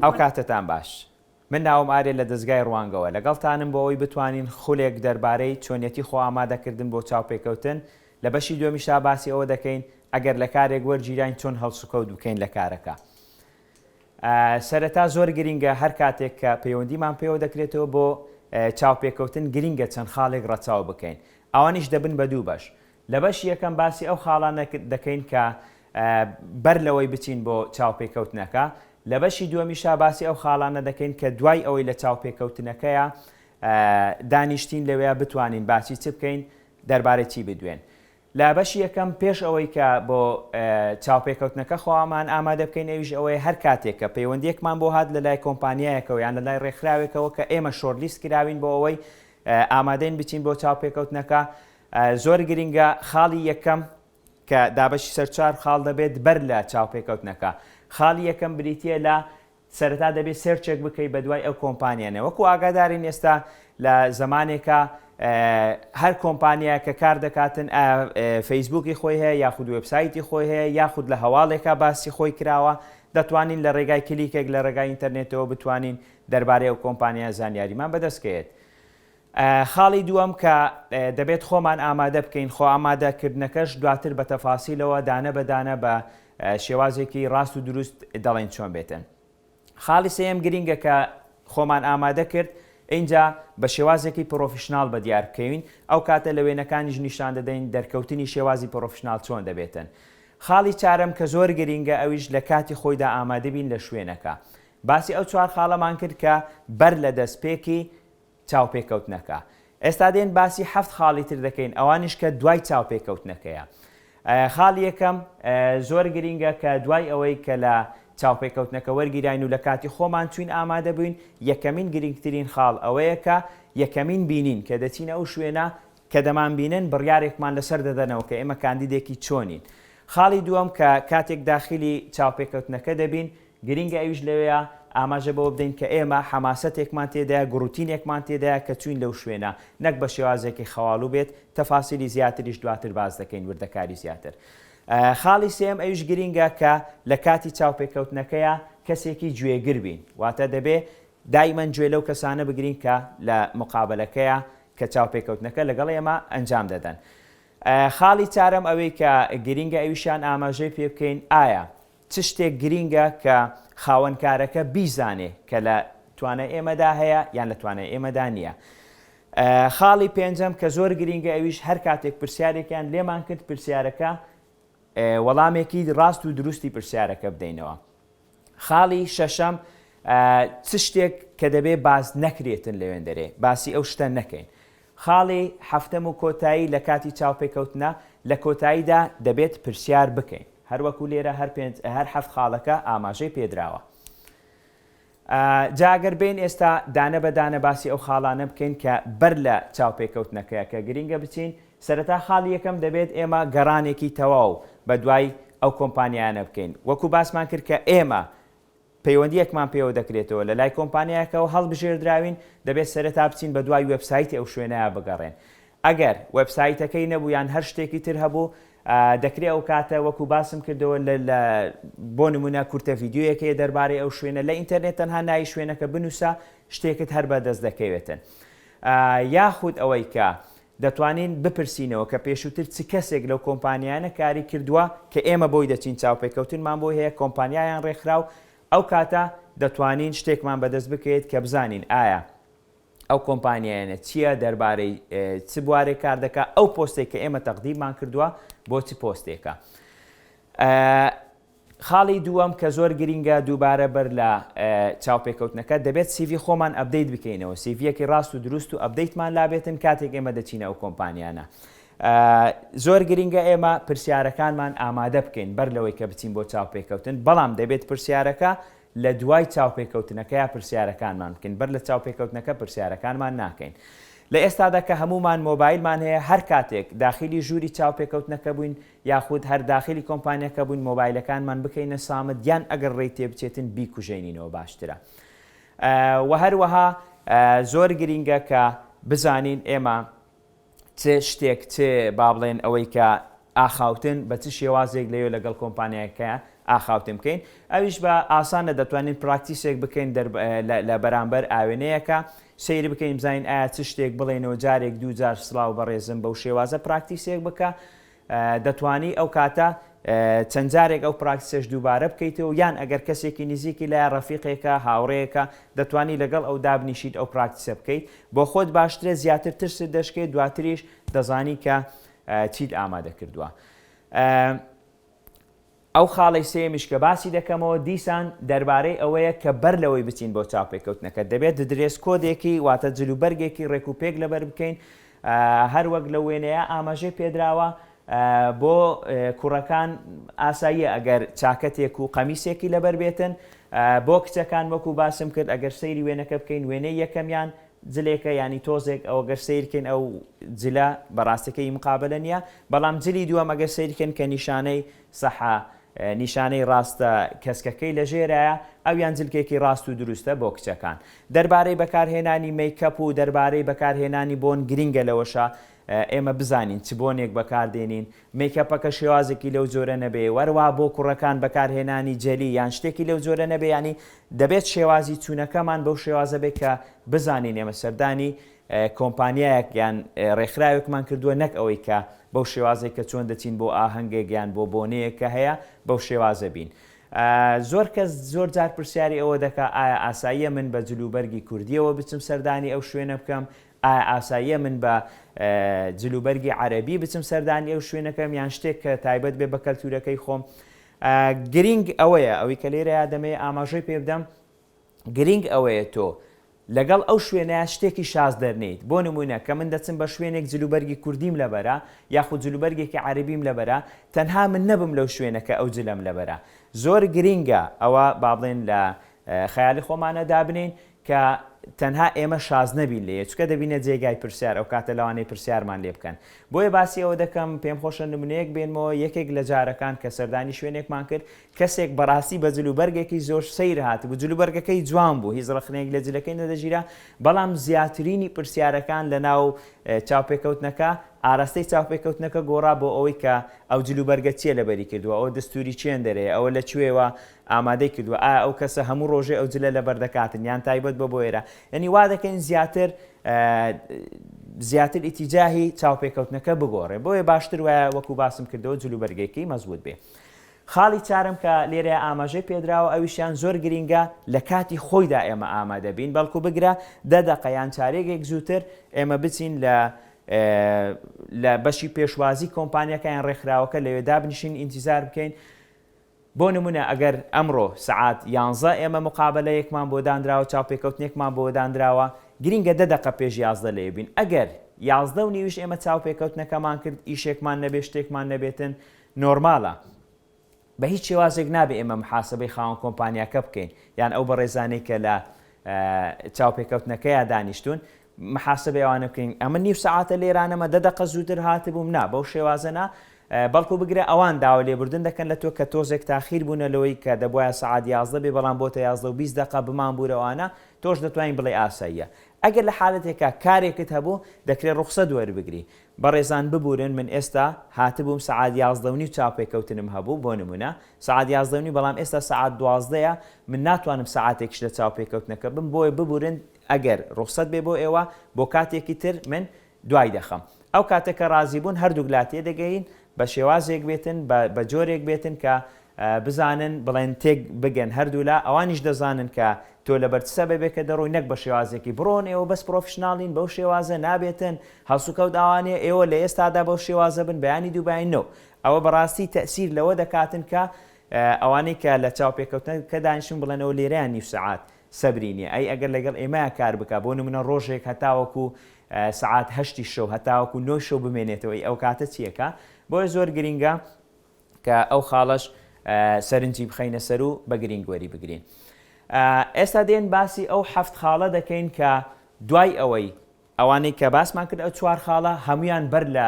ئەوکاتەتان باش. من ناوم ئارێ لە دەزگای ڕوانگەوە لەگەڵتانم بۆ ئەوەی بتوانین خولێک دەربارەی چۆنیەتی خۆ ئامادەکردن بۆ چاوپێکەوتن، لە بەشی دوێمیشدا باسی ئەوە دەکەین ئەگەر لە کارێک وەرگیراین چۆن هەڵسوکەوت بکەین لە کارەکە. سەرەتا زۆر گرینگە هەر کاتێک کە پەیوەندیمان پێوە دەکرێتەوە بۆ چاوپێکەوتن گرینگە چەند خاڵێک ڕەچاو بکەین. ئەوانیش دەبن بە دوو بەش. لە بەشی یەکەم باسی ئەو خاڵانە دەکەین کە بەر لەوەی بچین بۆ چاوپێکەوتنەکە، لە بەشی دووەمیشا باسی ئەو خاڵانە دەکەین کە دوای ئەوەی لە چاوپێکەوتنەکەیا دانیشتین لەوێیا بتوانین باسی چ بکەین، دەربارەی چی بدوێن. لە بەشی یەکەم پێش ئەوەی کە بۆ چاوپێکەوتنەکە خۆامان ئامادە بکەین ئەویش ئەوەیە هەر کاتێک کە پەیوەندیەکمان بۆ هات لە لای کۆمپانیایەکەوە یان لە لای ڕێکخراوێکەوە کە ئێمە شۆرلیست کراوین بۆ ئەوەی ئامادەین بچین بۆ چاوپێکەوتنەکە، زۆر گرنگە خاڵی یەکەم کە دابەشی سەر چوار خاڵ دەبێت بەر لە چاوپێکەوتنەکە خاڵی یەکەم بریتییە لە سەرەتا دەبێت سێرچێک بکەیت بە دوای ئەو کۆمپانیانە وەکو ئاگادارین ئێستا لە زمانێکە هەر کۆمپانیا کە کار دەکاتن فەیسبوکی خۆی هەیە یاخود وبسایتی خۆی هەیە یاخود لە هەواڵێکە باسی خۆی کراوە دەتوانین لە ڕێگای کلیکێک لە ڕێگای ئینتەرنێتەوە بتوانین دەربارەی ئەو کۆمپانیا زانیاریمان بەدەستکەێت خاڵی دووەم کە دەبێت خۆمان ئامادە بکەین، خۆ ئامادە کردنەکەش دواتر بە تەفاسیلەوە دانە بە دانە بە شێوازێکی ڕاست و دروست دەڵێین چۆن بێتن. خاڵی سێیەم گرینگە کە خۆمان ئامادە کرد، ئینجا بە شێوازێکی پرۆفیشناڵ بە دیار بکەوین، ئەو کاتە لە وێنەکانیش نیشان دەدەین دەرکەوتنی شێوازی پرۆفیشناڵ چۆن دەبێتن. خاڵی چارەم کە زۆر گرینگە ئەویش لە کاتی خۆیدا ئامادە بین لە شوێنەکە. باسی ئەو چوار خاڵەمان کرد کە بەر لە دەستپێکی چاوپێکەوتنەکە. ئێستا دێن باسی حەفت خاڵی تر دەکەین ئەوانیش کە دوای چاوپێکەوتنەکەیە. خاڵی یەکەم زۆر گرینگە کە دوای ئەوەی کە لە چاوپێکەوتنەکە وەرگیراین و لە کاتی خۆمان چوین ئامادە بوین یەکەمین گرینگترین خاڵ ئەوەیە کە یەکەمین بینین کە دەچینە ئەو شوێنە کە دەمانبینن بڕیارێکمان لەسەر دەدەنەوە کە ئێمە کاندیدێکی چۆنین. خاڵی دووەم کە کاتێک داخیلی چاوپێکەوتنەکە دەبین، گرینگە ئەویش لەوێیە ئاماژە بەوە بدەین کە ئێمە حەماسەتێکمان تێدایە، گوڕوتینێکمان تێدایە کە چووین لەو شوێنە، نەک بە شێوازێکی خەواڵوو بێت، تەفاسیلی زیاتریش دواتر باس دەکەین، وردەکاری زیاتر. خاڵی سێیەم ئەویش گرینگە کە لە کاتی چاوپێکەوتنەکەیا کەسێکی گوێگر بین، واتە دەبێ دایمەن گوێ لەو کەسانە بگرین کە لە مقابەلەکەیە کە چاوپێکەوتنەکە لەگەڵ ئێمە ئەنجام دەدەن. خاڵی چارەم ئەوەی کە گرینگە ئەویشیان ئاماژەی پێ بکەین ئایا چ شتێک گرینگە کە خاوەن کارەکە بیزانێ کە لە توانای ئێمەدا هەیە یان لە توانای ئێمەدا نییە. خاڵی پێنجەم کە زۆر گرینگە ئەویش هەر کاتێک پرسیارێکیان لێمان کرد پرسیارەکە وەڵامێکی ڕاست و دروستی پرسیارەکە بدەینەوە. خاڵی شەشەم، چ شتێک کە دەبێ باس نەکرێتن لە وێندەرێ، باسی ئەو شتە نەکەین. خاڵی حەفتەم و کۆتایی، لە کاتی چاوپێکەوتنە لە کۆتاییدا دەبێت پرسیار بکەین. هەر وەکوو لێرە هەر پێنج، هەر حەفت خاڵەکە ئاماژەی پێ دراوە. جا ئەگەر بێین ئێستا دانە بە دانە باسی ئەو خاڵانە بکەین کە بەر لە چاوپێکەوتنەکەیە کە گرینگە بچین سەرەتا خاڵی یەکەم دەبێت ئێمە گەڕانێکی تەواو بە دوای ئەو کۆمپانیایانە بکەین. وەکو باسمان کرد کە ئێمە پەیوەندییەکمان پێوە دەکرێتەوە لە لای کۆمپانیایەکەوە هەڵبژێردراوین، دەبێت سەرەتا بچین بە دوای وێبسایتی ئەو شوێنەیا بگەڕێن. ئەگەر وێبسایتەکەی نەبوو یان هەر شتێکی تر هەبوو دەکرێ ئەو کاتە وەکو باسم کردەوە لە بۆ نموونە کورتە ڤیدیۆیەک هەیە دەربارەی ئەو شوێنە لە ئینتەرنێت تەنها ناوی شوێنەکە بنووسە شتێکت هەر بەدەست دەکەوێتن. یاخود ئەوەی کە دەتوانین بپرسینەوە کە پێشووتر چ کەسێک لەو کۆمپانیایانە کاری کردووە کە ئێمە بۆی دەچین چاوپێکەوتنمان بۆی هەیە کۆمپانیایان ڕێکخرا و ئەو کاتە دەتوانین شتێکمان بەدەست بکەوێت کە بزانین ئایا ئەو کۆمپانیایانە چییە دەربارەی چ بوارێک کار دەکا ئەو پۆستێک کە ئێمە تەقدیممان کردووە بۆ چ پۆستێکە خاڵی دووەم کە زۆر گرینگە دووبارە بەر لە چاوپێکەوتنەکە دەبێت سیڤی خۆمان ئەپدەیت بکەینەوە سیڤیەکی ڕاست و دروست و ئەپدەیتمان لابێتن کاتێک ئێمە دەچینە ئەو کۆمپانیانە زۆر گرینگە ئێمە پرسیارەکانمان ئامادە بکەین بەر لەوەی کە بچین بۆ چاوپێکەوتن بەڵام دەبێت پرسیارەکە لە دوای چاوپێکەوتنەکەیا پرسیارەکانمان بکەین بەر لە چاوپێکەوتنەکە پرسیارەکانمان ناکەین لە ئێستادا کە هەمومان مۆبایلمان هەیە هەر کاتێک داخلی ژووری چاوپێکەوتنەکە بووین یاخود هەر داخلی کۆمپانیاکە بووین مۆبایلەکانمان بکەینە سامت یان ئەگەر ڕێی تێ بچێتن بیکوژێنینەوە باشترە وە هەروەها زۆر گرینگە کە بزانین ئێمە چ شتێک چ با بڵێن ئەوەی کە ئاخاوتن بە چ شێوازێک لەوێ لەگەڵ کۆمپانیایەکە ئاخاوتن بکەین ئەویش بە ئاسانە دەتوانین پراکتیسێک بکەین لە بەرامبەر ئاوێنەیەەکە سەیری بکەین بزانین ئایا چ شتێک بڵێنەوە جارێک دوو جار سلااو بەڕێزم بەو شێوازە پراکتیسێک بکە دەتوانی ئەو کاتە چەند جارێک ئەو پراکتسەش دووبارە بکەیتەوە یان ئەگەر کەسێکی نزیکی لایە ڕەفیقێکە هاوڕێیەکە دەتوانی لەگەڵ ئەو دابنیشیت ئەو پراکتسە بکەیت بۆ خۆت باشترە زیاتر ترست دەشکێت دواتریش دەزانی کە چیت ئامادە کردووە. ئەو خاڵەی سێیەمیش کە باسی دەکەمەوە دیسان دەربارەی ئەوەیە کە بەر لەوەی بچین بۆ چاوپێکەوتنەکە دەبێت درێس کۆدێکی واتە جل و بەرگێکی ڕێک و پێک لەبەر بکەین هەر وەک لە وێنەیە ئاماژەی پێدراوە بۆ کوڕەکان ئاساییە ئەگەر چاکەتێک و قەمیسێکی لەبەر بێتن بۆ کچەکان وەکو باسم کرد ئەگەر سەیری وێنەکە بکەین وێنەی یەکەمیان جلێکە یانی تۆزێک ئەو گەر سەیر کەین ئەو جلە بەڕاستی کەی مقابەلە نیە بەڵام جلی دووەم ئەگەر سەیر کەن کە نیشانەی سەحە نیشانەی ڕاستە کەسکەکەی لە ژێرایە ئەویان جلکێکی ڕاست و دروستە بۆ کچەکان دەربارەی بەکارهێنانی مەیکەپ و دەربارەی بەکارهێنانی بۆن گرینگە لەوەشە ئێمە بزانین چ بۆنێک بەکاردێنین، مەیکەپەکە شێوازێکی لەو جۆرە نەبێ، وەرەوا بۆ کوڕەکان بەکارهێنانی جەلی یان شتێکی لەو جۆرە نەبێ، یانی دەبێت شێوازی چوونەکەمان بەو شێوازە بێت کە بزانین ئێمە سەردانی کۆمپانیایەک یان رێکخراوێکمان کردووە نەک ئەوەی کە بەو شێوازەی کە چۆن دەچین بۆ ئاهەنگێک یان بۆ بۆنەیەک کە هەیە بەو شێوازە بین. زۆر کەس زۆر جار پرسیاری ئەوە دەکا ئایا ئاساییە من بە جلوبەرگی کوردییەوە بچم سەردانی ئەو شوێنە بکەم، ئایا ئاساییە من بە جلوبەرگی عەرەبی بچم سەردانی ئەو شوێنە کەم یان شتێک کە تایبەت بێ بە کەلتورەکەی خۆم؟ گرینگ ئەوەیە ئەوەی کە لێرەیا دەمەوێ ئاماژەی پێ بدەم گرینگ ئەوەیە تۆ لەگەڵ ئەو شوێنەیە شتێکی شاز دەرنیت بۆ نمونە کە من دەچم بە شوێنێک جلوبەرگی کوردیم لەبەرە یاخود جلوبەرگێکی عەربیم لەبەرە تەنها من نەبم لەو شوێنەکە ئەو جلەم لەبەرە زۆر گرینگە ئەوە با بڵێن لە خەیالی خۆمانە دابنین کە تەنها ئێمە شاز نەبین لێێ چکە دەبینە جێگای پرسیار ئەوکاتە لەوانەیە پرسیارمان لێ بکەن بۆیە باسی ئەوە دەکەم پێم خۆشە نمونەیەک بێنمەوە یەکێک لە جارەکان کە سەردانی شوێنێکمان کرد کەسێک بەڕاستی بە جل و بەرگێکی زۆر سیر هات بوو جل و بەرگەکەی جوان بوو هیچ ڕخنێک لە جلەکەی نەدەژیرا بەڵام زیاترینی پرسیارەکان لە ناو چاوپێکەوتنەکە ئاراستەی چاوپێکەوتنەکە گۆڕا بۆ ئەوەی کە ئەو جل و بەرگە چیە لەبەری کردووە ئەو دەستوری چێندەرەیە ئەوە لە کوێوە ئامادەی کردوە ئایا ئەو کەسە هەموو ڕۆژێ ئەو جلە لەبەر دەکاتن یان تایبەت بۆ بۆ ئێرە یەنی وا دەکەین زیاتر زیاتر ئیتیجاهی چاوپێکەوتنەکە بگۆڕێ بۆیە باشتر وایە وەکو باسم کردەوە جلو بەرگێکی مەزبوط بێ خاڵی چارم کە لێرە ئاماژەی پێدراوە ئەویشیان زۆر گرینگە لە کاتی خۆیدا ئێمە ئامادەبین بەڵکو بگرە دەدەقەیان چارێکێک زووتر ئێمە بچین لە لە بەشی پێشوازی کۆمپانیەکەیان ڕێکخراوەکە لەوێدا بنیشین ئینتیزار بکەین بۆ نموونە ئەگەر ئەمڕۆ سەعات یانزە ئێمە موقابەلەیەکمان بۆ دانراوە، چاوپێکەوتنێکمان بۆ دانراوە، گرینگە دە دەقە پێش یازدە لەوێ بین، ئەگەر یازدە و نیویش ئێمە چاوپێکەوتنەکەمان کرد، ئیشێکمان نەبێت، شتێکمان نەبێتن، نۆرمالە. بە هیچ شێوازێک نابێت ئێمە محاسەبەی خاوەن کۆمپانیاکە بکەین، یان ئەو بەڕێزانەی کە لە چاوپێکەوتنەکەیا دانیشتوون، محاسبەی ئەوانە بکەین ئەمن نیو سەعاتە لێرانەمە دە دەقە زووتر هاتبووم نا بەو شێوازە نا بەڵکو بگرە ئەوان داوا لێبوردن دەکەن لە تۆ کە تۆزێک تاخیر بوونە لەوەی کە دەبواە سعات یازدە بێ بەڵام بۆتە یازدە و بیست دقە بمان بوورەوانە تۆش دەتوانین بڵێ ئاساییە ئەگەر لە حالەتێکا کارێکت هەبوو دەکرێت ڕوخسە دوەر بگری بەڕێزان ببورن من ئێستا هاتبووم سعات یازدە و نیو چاوپێکەوتنم هەبوو بۆ نمونە سعات یازدە و نیو بەڵام ئێستا سعات دوازدەیە من ناتوانم سعاتێکش لە چاوپێکەوتنەکە بم بۆی ببورن ئەگەر ڕوخسەت بێ بۆ ئێوە بۆ کاتێکی تر من دوای دەخەم. ئەو کاتە کە ڕازی بوون هەردووک لا تێدەگەین بە شێوازێک بێتن بە بە جۆرێک بێتن کە بزانن بڵێن تێک بگەن هەردوو لا ئەوانیش دەزانن کە تۆ لەبەر چ سەبەبێکە دەڕۆی نەک بە شێوازێکی بڕۆن ئێوە بەس پڕۆفیشناڵین بەو شێوازە نابێتن هەڵسوکەوت ئاوانێ ئێوە لە ئێستادا بەو شێوازە بن بەیانی دووباین نۆ ئەوە بەڕاستی تەسیر لەوە دەکاتن کە ئەوانەی کە لە چاوپێکەوتنەکە دانیشن بڵێنەوە لێرەیان نیو سەعات سەبری نیە ئەی ئەگەر لەگەڵ ئێمەیا کار بکا بۆ نمونە ڕۆژێک هەتاوەکو سەعات هەشتی شەو هەتاوەکو نۆی شەو بمێنێتەوە ئەی ئەوکاتە چی ئەکا بۆیە زۆر گرینگە کە ئەو خاڵەش سەرنجی بخەینە سەر و بە گرینگ وەری بگرین ئێستا دێن باسی ئەو حەفت خاڵە دەکەین کە دوای ئەوەی ئەوانەی کە باسمان کرد ئەو چوار خاڵە هەمویان بەر لە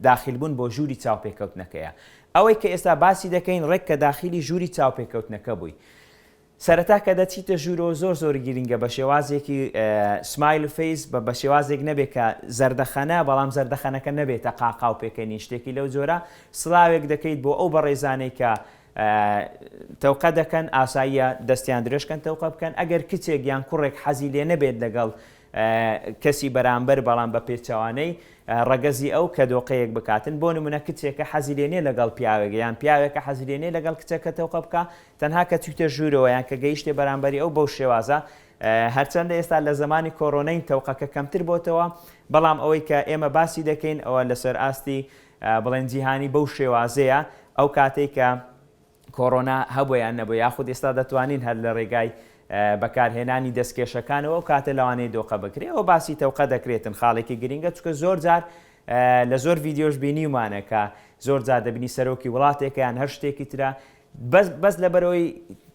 داخیل بوون بۆ ژووری چاوپێکەوتنەکەیە ئەوەی کە ئێستا باسی دەکەین ڕێک کە داخیلی ژووری چاوپێکەوتنەکە بووی سەرەتا کە دەچیتە ژوورەوە زۆر زۆر گرینگە بە شێوازێکی سمایل فەیس بە بەشێوازێک نەبێت کە زەردەخەنە بەڵام زەردەخەنەکە نەبێتە قاقاو پێکەنین شتێکی لەو جۆرە سڵاوێک دەکەیت بۆ ئەو بەڕێزانەی کە تەوقە دەکەن ئاساییە دەستیان درێژکەن تەوقە بکەن ئەگەر کچێک یان کوڕێک حەزی لێ نەبێت لەگەڵ کەسی بەرامبەر بەڵام بە پێچوانەی ڕەگەزی ئەو کە دۆقەیەک بکاتن بۆ نمونە کچێکە حەزیلێنێ لەگەڵ پیاوێک یان پیاوێکە حەزیلێنێ لەگەڵ کچەکە تەوقە بکە تەنها کە چویتە ژوورەوە یان کە گەیشتە بەرامبەری ئەو بەو شێوازە هەرچەندە ئێستا لە زمانی کۆرۆنەین تەوقەکە کەمتر بۆتەوە بەڵام ئەوەی کە ئێمە باسی دەکەین ئەوە لەسەر ئاستی بڵێن جیهانی بەو شێوازەیە ئەو کاتێک کە کۆرۆنا هەبوویان نەبوو یاخود ئێستا دەتوانین هەر لە ڕێگای بەکارهێنانی دەستکێشەکانەوە و کاتە لەوانەیە دۆقە بکرێ ئەو باسی تەوقە دەکرێتن خاڵێکی گرنگە چکە زۆر جار لە زۆر ڤیددیۆش بینیمانەکە زۆر جار دەبنی سەرۆکی وڵاتێکیان هەر شتێکی ترە بەس بەس لەبەرئەوەی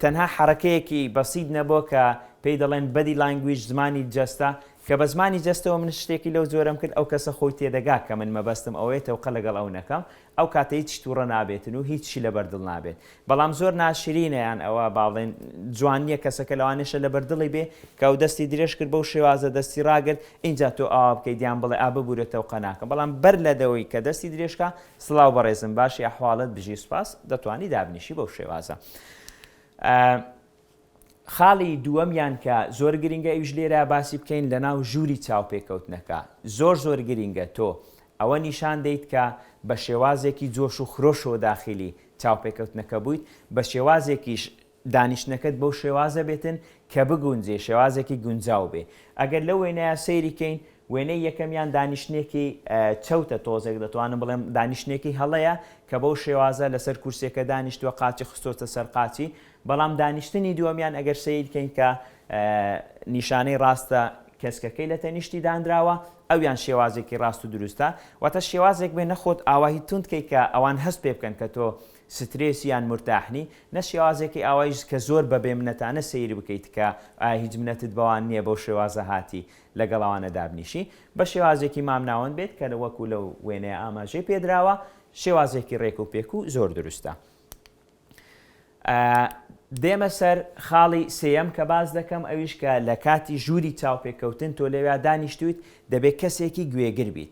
تەنها حەڕەکەیەکی بەسیت نەبوە کە پێی دەڵێن بەدی لانگویج زمانی جەستە کە بە زمانی جەستەوە من شتێکی لەو جۆرەم کرد ئەو کەسە خۆی تێدەگا کە من مەبەستم ئەوەیە تەوقە لەگەڵ ئەو نەکەم ئەو کاتە هیچ توڕە نابێتن و هیچی لەبەر دڵ نابێت بەڵام زۆر ناشرینە یان ئەوە باڵێن جوان نییە کەسەکە لەوانێشە لەبەر دڵی بێ کە ئەو دەستی درێژ کرد بەو شێوازە دەستی ڕاگرت ئینجا تۆ ئاوا بکەیت یان بڵێ ئا ببورە تەوقە ناکەم بەڵام بەر لە دەوەی کە دەستی درێژکا سڵاو بەڕێزم باشی ئەحواڵت بژی سوپاس دەتوانی دابنیشی بەو شێوازە خاڵی دووەمیان کە زۆر گرنگە ئیش لێرە باسی بکەین لە ناو ژووری چاوپێکەوتنەکە زۆر زۆر گرنگە تۆ ئەوە نیشان دەیت کە بە شێوازێکی جۆش و خرۆش و داخلی چاوپێکەوتنەکە بوویت بە شێوازێکیش دانیشتنەکەت بەو شێوازە بێتن کە بگونجێ شێوازێکی گونجاو بێ ئەگەر لەو وێنەیە سەیری کەین وێنەی یەکەمیان دانیشتنێکی چەوتە تۆزێک دەتوانم بڵێم دانیشتنێکی هەڵەیە کە بەو شێوازە لەسەر کورسێکە دانیشتوە قاچی خستۆتە سەر قاچی بەڵام دانیشتنی دووەمیان ئەگەر سیر کەین کە نیشانەی ڕاستە کەسکەکەی لە تەنیشتی دانراوە ئەویان شێوازێکی ڕاست و دروستە واتە شێوازێک بێ نەخۆت ئاواهی تونندکەی کە ئەوان هەست پێ بکەن کە تۆ سترێس یان مورتاحنی نە شێوازێکی ئاوایش کە زۆر بە بێ منەتانە سەیری بکەیت کە ئایا هیچ منەتت بەوان نیە بەو شێوازە هاتی لەگەڵ ئەوانە دابنیشی بە شێوازێکی مام ناوەند بێت کە وەکو لەو وێنەیە ئاماژەی پێ دراوە شێوازێکی ڕێک و پێک و زۆر دروستە. دێمە سەر خاڵی سێیەم کە باس دەکەم ئەویش کە لە کاتی ژووری چاوپێکەوتن تۆ لەوێ دانیشتویت دەبێت کەسێکی گوێگر بیت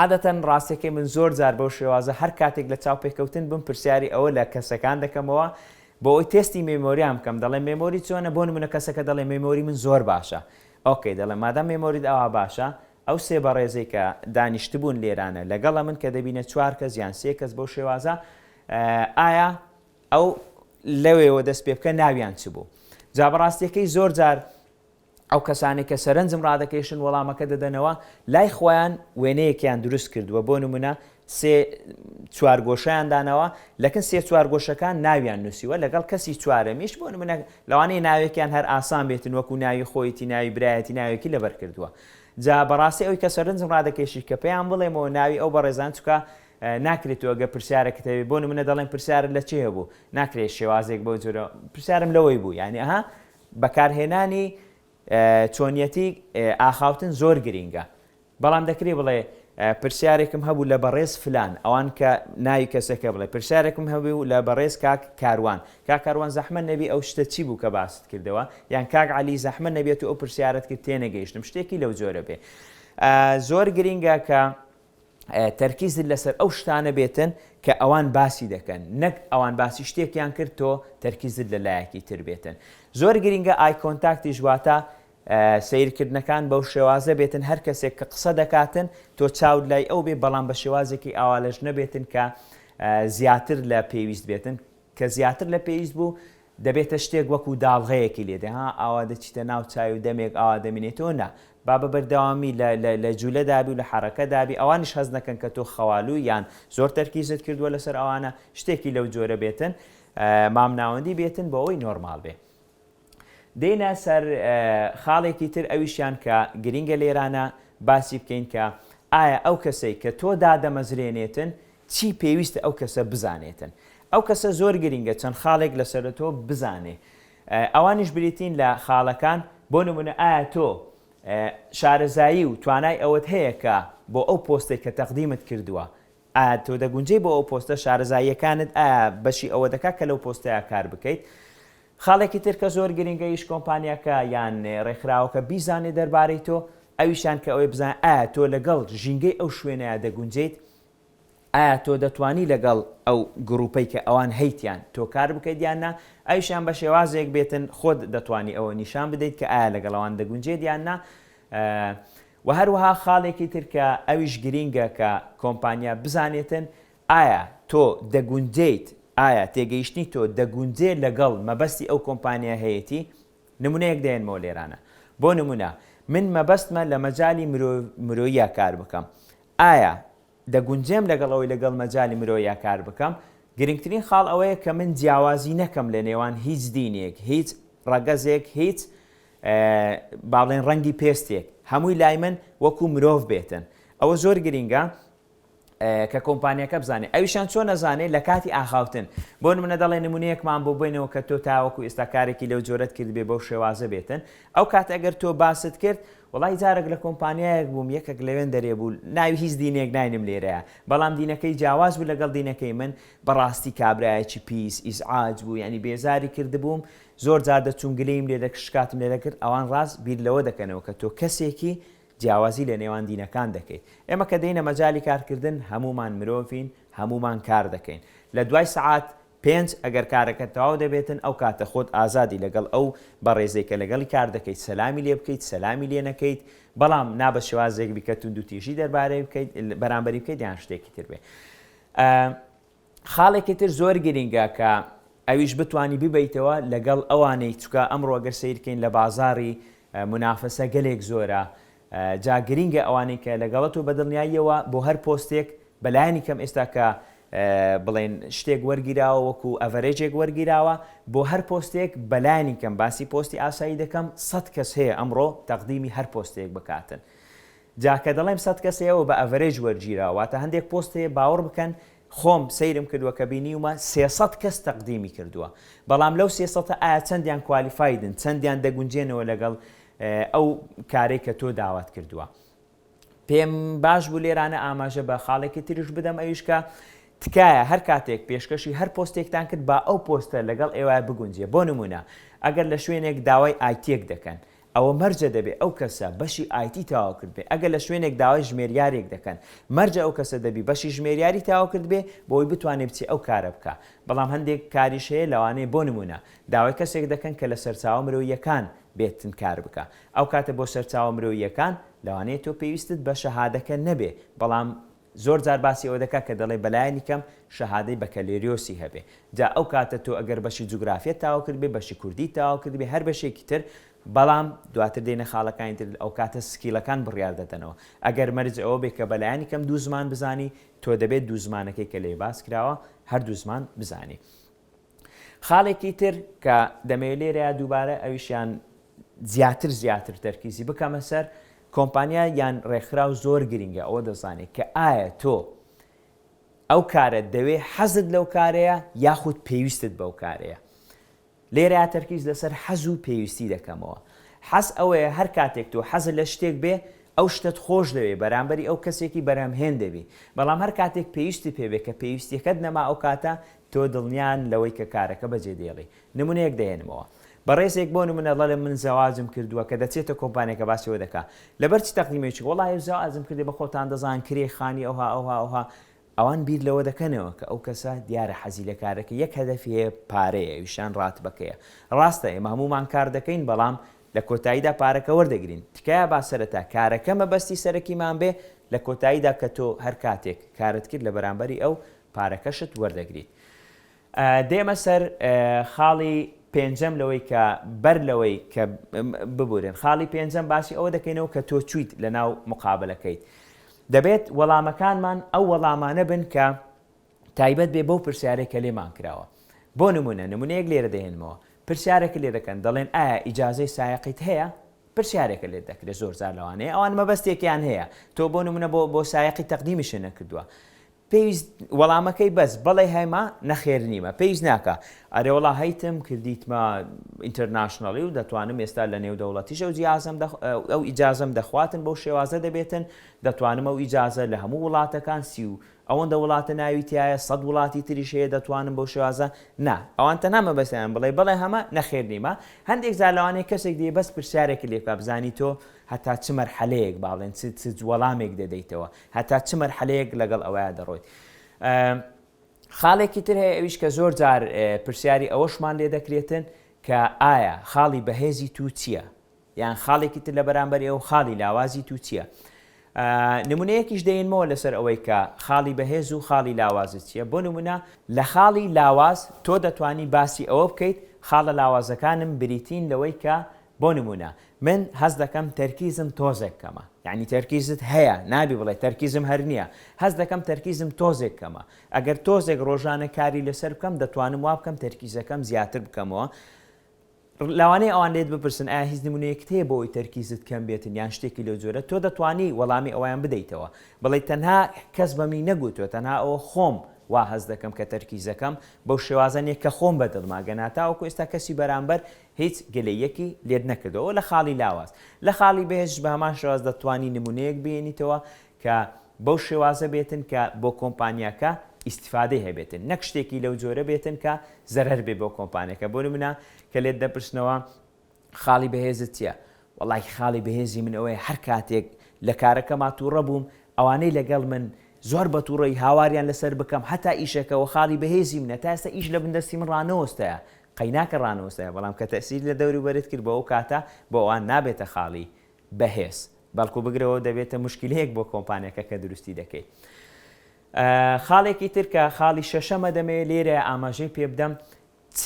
عادەتەن ڕاستیەکەی من زۆر جار بەو شێوازە هەر کاتێک لە چاوپێکەوتن بم پرسیاری ئەوە لە کەسەکان دەکەمەوە بۆ ئەوەی تێستی مێمۆریان بکەم دەڵێم مێمۆری چۆنە بۆ نمونە کەسەکە دەڵێ مێمۆری من زۆر باشە ئۆکەی دەڵێم مادام مێمۆریت ئەوا باشە ئەو سێ بەڕێزەی کە دانیشتبوون لێرانە لەگەڵە من کە دەبینە چوار کەس یان سێ کەس بەو شێوازە ئایا ئەو لەوێوە دەست پێ بکە ناویان چ بوو جا بەڕاستیەکەی زۆر جار ئەو کەسانەی کە سەرنجم ڕادەکێشن وەڵامەکە دەدەنەوە، لای خۆیان وێنەیەکیان دروست کردووە، بۆ نموونە سێ چوارگۆشەیان داناوە، لەکن سێ چوارگۆشەکان ناویان نووسیوە، لەگەڵ کەسی چوارەمیش بۆ نموونە لەوانەیە ناوێکیان هەر ئاسان بێتن وەکو ناوی خۆیەتی، ناوی برایەتی، ناوێکی لەبەر کردووە. جا بەڕاستی ئەوی کە سەرنجم ڕادەکێشی کە پێیان بڵێمەوە ناوی ئەو بەڕێزان چونکە ناکرێت و گە پرسیارەکت هەبێت بۆ نموونە دەڵێن پرسیارت لە چێ هەبوو ناکرێت شێوازێک بەو جۆرە پرسیارم لەوەی بوو یانی ئەها بەکارهێنانی چۆنیەتی ئاخاوتن زۆر گرینگە بەڵام دەکرێ بڵێ پرسیارێکم هەبوو لە بەڕێز فلان ئەوان کە ناوی کەسەکە بڵێ پرسیارێکم هەبوو و لە بەڕێز کاک کاروان کاک کاروان زەحمەت نەبی ئەو شتە چی بوو کە باست کردەوە یان کاک عەلی زەحمەت نەبێت و ئەو پرسیارت کرد تێنەگەیشتم شتێکی لەو جۆرە بێ زۆر گرینگە کە تەرکیزت لەسەر ئەو شتانە بێتن کە ئەوان باسی دەکەن نەک ئەوان باسی شتێکیان کرد تۆ تەرکیزت لە لایەکی تر بێتن زۆر گرینگە ئای کۆنتاکتیش واتە سیرکردنەکان بەو شێوازە بێتن هەر کەسێک کە قسە دەکاتن تۆ چاود لای ئەو بێ بەڵام بە شێوازێکی ئاوالەش نەبێتن کە زیاتر لە پێویست بێتن کە زیاتر لە پێویست بوو دەبێتە شتێک وەکو داڵغەیەکی لێ دێ ها ئاوا دەچیتە ناو چای و دەمێک ئاوا دەمینێتەوە نا با بە بەردەوامی لە لە لە جولە دابی و لە حەڕەکە دابی ئەوانیش هەست نەکەن کە تۆ خەوالووی یان زۆر تەرکیزت کردووە لەسەر ئەوانە شتێکی لەو جۆرە بێتن مامناوەندی بێتن بۆ ئەوەی نۆرماڵ بێ دێنە سەر خاڵێکی تر ئەویشیان کە گرینگە لێرانە باسی بکەین کە ئایا ئەو کەسەی کە تۆ دادەمەزرێنێتن چی پێویستە ئەو کەسە بزانێتن؟ ئەو کەسە زۆر گرینگە چەند خاڵێک لەسەر تۆ بزانێ ئەوانیش بریتین لە خاڵەکان بۆ نمونە ئایا تۆ شارەزایی و توانای ئەوەت هەیە کە بۆ ئەو پۆستەی کە تەقدیمت کردووە ئایا تۆ دەگونجێی بۆ ئەو پۆستە شارەزاییەکانت ئایا بەشی ئەوە دەکات کە لەو پۆستەیە کار بکەیت خاڵێکی تر کە زۆر گرینگە هیچ کۆمپانیاکە یان ڕێکخراوەکە بیزانێ دەربارەی تۆ ئەویشان کە ئەوەی بزان ئایا تۆ لەگەڵ ژینگەی ئەو شوێنەیە دەگونجێیت ئایا تۆ دەتوانی لەگەڵ ئەو گڕوپەی کە ئەوان هەیتیان تۆ کار بکەیت یان نا ئەویشیان بە شێوازێک بێتن خۆت دەتوانی ئەوە نیشان بدەیت کە ئایا لەگەڵ ئەوان دەگونجێت یان نا وە هەروەها خاڵێکی تر کە ئەویش گرینگە کە کۆمپانیا بزانێتن ئایا تۆ دەگونجێیت ئایا تێگەیشتنی تۆ دەگونجێ لەگەڵ مەبەستی ئەو کۆمپانیا هەیەتی نمونەیەک دێنمەوە لێرانە بۆ نمونە من مەبەستمە لە مەجالی مرۆ مرۆییا کار بکەم ئایا دەگونجێم لەگەڵ ئەوەی لەگەڵ مەجالی مرۆییا کار بکەم؟ گرنگترین خاڵ ئەوەیە کە من جیاوازی نەکەم لە نێوان هیچ دینێک، هیچ ڕەگەزێک، هیچ با بڵێین ڕەنگی پێستێک، هەمووی لای من وەکو مرۆڤ بێتن. ئەوە زۆر گرنگە کە کۆمپانیاکە بزانێت. ئەویشان چۆن ئەزانێت؟ لە کاتی ئاخاوتن. بۆ نموونە دەڵێن نموونەیەکمان بۆ بێنەوە کە تۆ تاوەکو ئێستا کارێکی لەو جۆرەت کردبێت بەو شێوازە بێتن. ئەو کاتە ئەگەر تۆ باست کرد، وەڵای جارەک لە کۆمپانیایەک بووم یەکەک لەوێن دەرێ بوو ناوی هیچ دینێک ناینم لێرەیا بەڵام دینەکەی جیاواز بوو لەگەڵ دینەکەی من بەڕاستی کابرایەکی پیس ئیزعاج بوو یانی بێزاری کردبووم زۆر جار دەچووم گلەییم لێ دەکرد شکاتم لێ دەکرد ئەوان ڕاست بیر لەوە دەکەنەوە کە تۆ کەسێکی جیاوازی لە نێوان دینەکان دەکەیت ئێمە کە دێینە مەجالی کارکردن هەموومان مرۆڤین هەموومان کار دەکەین لە دوای سەعات پێنج، ئەگەر کارەکەت تەواو دەبێتن ئەو کاتە خۆت ئازادی لەگەڵ ئەو بەڕێزەی کە لەگەڵی کار دەکەیت سەلامی لێ بکەیت سەلامی لێ نەکەیت بەڵام نا بە شێوازێک بیکە توندوتیژی دەربارەی بکەیت بەرامبەری بکەیت یان شتێکی تر بێ خاڵێکی تر زۆر گرینگە کە ئەویش بتانی ببیتەوە لەگەڵ ئەوانەی چکە ئەمڕۆ گەر سیرکەین لە بازاری منافەسە گەلێک زۆرە جا گرینگە ئەوانەی کە لەگەڵت و بەدڵنیاییەوە بۆ هەر پۆستێک بەلایەنی کەم ئێستا کە بڵێن شتێک وەرگیراوە وەکو ئەڤەرێجێک وەرگیراوە بۆ هەر پۆستێک بەلایەنی کەم باسی پۆستی ئاسایی دەکەم سەد کەس هەیە ئەمڕۆ تەقدیمی هەر پۆستێک بکاتن جا کە دەڵێم سەد کەس هەیەەوە بە ئەڤەرێج وەرگیراوە واتە هەندێک پۆست هەیە باوەڕ بکەن خۆم سەیرم کردوە کە بینیومە سێ سەد کەس تەقدیمی کردوە بەڵام لەو سێ سەتە ئایا چەندیان کوالیفایدن چەندیان دەگونجێنەوە لەگەڵ ئەو کارەی کە تۆ داوات کردوە پێم باش بوو لێرانە ئاماژە بە خاڵێکی تریش بدەم ئەویش کە تکایە هەر کاتێک پێشکەشی هەر پۆستێکتان کرد با ئەو پۆستە لەگەڵ ئێوە بگونجێ بۆ نمونە ئەگەر لە شوێنێک داوای ئایتیەک دەکەن ئەوە مەرجە دەبێ ئەو کەسە بەشی ئایتی تەواو کردبێ ئەگەر لە شوێنێک داوای ژمێریارێک دەکەن مەرجە ئەو کەسە دەبی بەشی ژمێریاری تەواو کردبێ بۆی بتوانێ بچێ ئەو کارە بکا بەڵام هەندێک کاریش هەیە لەوانەیە بۆ نموونە داوای کەسێک دەکەن کە لە سەرچاوە مرۆییەکان بێتن کار بکا ئەو کاتە بۆ سەرچاوە مرۆییەکان لەوانەیە تۆ پێویستت بە شەهادەکە نەبێ بەڵام زۆر جار باسی ئەوە دەکات کە دەڵێ بەلایەنی کەم شەهادەی بەکەلێریۆسی هەبێ جا ئەو کاتە تۆ ئەگەر بەشی جوگرافیەت تاو کردبێ بەشی کوردیت تاو کردبێ هەر بەشێکی تر بەڵام دواتر دێنە خاڵەکانی تر ئەو کاتە سکیلەکان بڕیار دەدەنەوە ئەگەر مەرج ئەوە بێ کە بەلایەنی کەم دوو زمان بزانی تۆ دەبێ دوو زمانەکەی کە لێی باس کراوە هەردوو زمان بزانی. خاڵێکی تر کە دەمەوێت لێرەیا دووبارە ئەویشیان زیاتر زیاتر تەرکیزی بکەمە سەر کۆمپانیا یان ڕێکخراو زۆر گرنگە ئەوە دەزانێت کە ئایا تۆ ئەو کارە دەوێ حەزت لەو کارەیە یاخود پێویستت بەو کارەیە لێرە تەرکیز لەسەر حەز و پێویستی دەکەمەوە حەز ئەوەیە هەر کاتێک تۆ حەز لە شتێک بێ ئەو شتت خۆش دەوێ بەرامبەری ئەو کەسێکی بەرهەمهێن دەبی بەڵام هەر کاتێک پێویستی پێبێ کە پێویستیەکەت نەما ئەو کاتە تۆ دڵنیان لەوەی کە کارەکە بەجێ دەیڵی؟ نمونەیەک دەهێنمەوە بەڕێزێک بۆ نمونە دەڵێ من زەواجم کردوە کە دەچێتە کۆمپانیەکە باسی ئەوە دەکا لەبەر چ تەقدیمێ چوی وەڵا ئێو زەواجم کردی بە خۆتان دەزان کرێی خانی ئەوها ئەوها ئەوها ئەوان بیر لەوە دەکەنەوە کە ئەو کەسە دیارە حەزی لە کارەکە یەک هەدەفی هەیە پارەیە ئەویشان ڕاتبەکەیە ڕاستە ئێمە هەمومان کار دەکەین بەڵام لە کۆتاییدا پارەکە وەردەگرین تکایە با سەرەتا کارەکە مەبەستی سەرەکیمان بێ لە کۆتاییدا کە تۆ هەر کاتێک کارت کرد لە بەرامبەری ئەو پارەکەشت وەردەگریت. دێمە سەر خاڵی پێنجەم لەوەی کە بەر لەوەی کە ببورن خاڵی پێنجەم باسی ئەوە دەکەینەوە کە تۆ چیت لە ناو مقابلەکەیت دەبێت وەڵامەکانمان ئەو وەڵامانە بن کە تایبەت بێ بەو پرسیارێک کە لێمان کراوە بۆ نمونە نمونەیەک لێرە دەێنمەوە پرسیارێک لێ دەکەن دەڵێن ئایا ئیجاازەی سایقیت هەیە پرسیارێکە لێت دەکرێت زۆر زار لەوانەیە ئەوان مەبەستێکیان هەیە تۆ بۆ نمونە بۆ بۆ سایقی تەقدیمیشە نەکردووە پێویست وەڵامەکەی بەس بەڵێ هەیمە نەخێر نیمە پێویست ناکا ئەرێوەڵا هەیتم کردیتمە ئینتەرناشناڵی و دەتوانم ئێستا لە نێودەوڵەتیش ئەو جیازم ئەو ئیجازەم دەخواتن بەو شێوازە دەبێتن دەتوانم ئەو ئیجازە لە هەموو وڵاتەکان سی و ئەوەندە وڵاتە ناوی تایە سەد وڵاتی تریش هەیە دەتوانم بەو شێوازە نا ئەوان تەنها مەبەستیان بڵێ بڵێ هەمە نەخێر نیمە هەندێک جار لەوانەیە کەسێک دێ بەس پرسیارێکی لێکا بزانی تۆ هەتا چ مەرحەلەیەک باڵێن چ چ وەڵامێک دەدەیتەوە هەتا چ مەرحەلەیەک لەگەڵ ئەوەیا دەڕۆیت؟ خاڵێکی تر هەیە ئەویش کە زۆر جار پرسیاری ئەوەشمان لێ دەکرێتن کە ئایا خاڵی بەهێزی تو چییە؟ یان خاڵێکی تر لە بەرامبەر ئێوە خاڵی لاوازی تو چییە؟ نمونەیەکیش دەینمەوە لەسەر ئەوەی کە خاڵی بەهێز و خاڵی لاوازت چییە بۆ نمونە لە خاڵی لاواز تۆ دەتوانی باسی ئەوە بکەیت خاڵە لاوازەکانم بریتین لەوەی کە بۆ نموونە من هەست دەکەم تەرکیزم تۆزێک کەمە، یەعنی تەرکیزت هەیە، نابی بڵێ تەرکیزم هەر نییە، هەست دەکەم تەرکیزم تۆزێک کەمە، ئەگەر تۆزێک ڕۆژانە کاری لەسەر بکەم دەتوانم وا بکەم تەرکیزەکەم زیاتر بکەمەوە، لەوانەیە ئەوان لێت بپرسن ئایا هیچ نموونەیەکت هەیە بۆ ئەوەی تەرکیزت کەم بێتن یان شتێکی لەو جۆرە، تۆ دەتوانی وەڵامی ئەوەیان بدەیتەوە، بڵێیت تەنها کەس بەمی نەگوتووە تەنها ئەوە خۆم وا هەست دەکەم کە تەرکیزەکەم بەو شێوازە نییە کە خۆم بە دڵمە، گەنا تاوەکو ئێستا کەسی بەرامبەر هیچ گلەییەکی لێت نەکردووە و لە خاڵی لاواز. لە خاڵی بەهێزش بە هەمان شێواز دەتوانی نموونەیەک بهێنیتەوە کە بەو شێوازە بێتن کە بۆ کۆمپانیاکە ئیستیفادەی هەبێتن نەک شتێکی لەو جۆرە بێتن کە زەرەر بێ بۆ کۆمپانیاکە بۆ نموونە کە لێت دەپرسنەوە خاڵی بەهێزت چیە؟ وەڵا خاڵی بەهێزی من ئەوەیە هەر کاتێک لە کارەکەما تووڕە بووم ئەوانەی لەگەڵ من زۆر بە تووڕەیی هاواریان لەسەر بکەم هەتا ئیشەکە وە خاڵی بەهێزی منە تا ئێستا ئیش لە بندەستی من ڕانەوەستایە قەیناکە ڕانووسە، بەڵام کە تەئسیرت لە دەوروبەرت کرد بۆ ئەو کاتە بۆ ئەوان نابێتە خاڵی بەهێز، بەڵکو بگرەوە دەبێتە موشکیلەیەک بۆ کۆمپانیاکە کە دروستی دەکەیت. خاڵێکی تر کە خاڵی شەشەمە دەمەوێت لێرە ئاماژەی پێ بدەم چ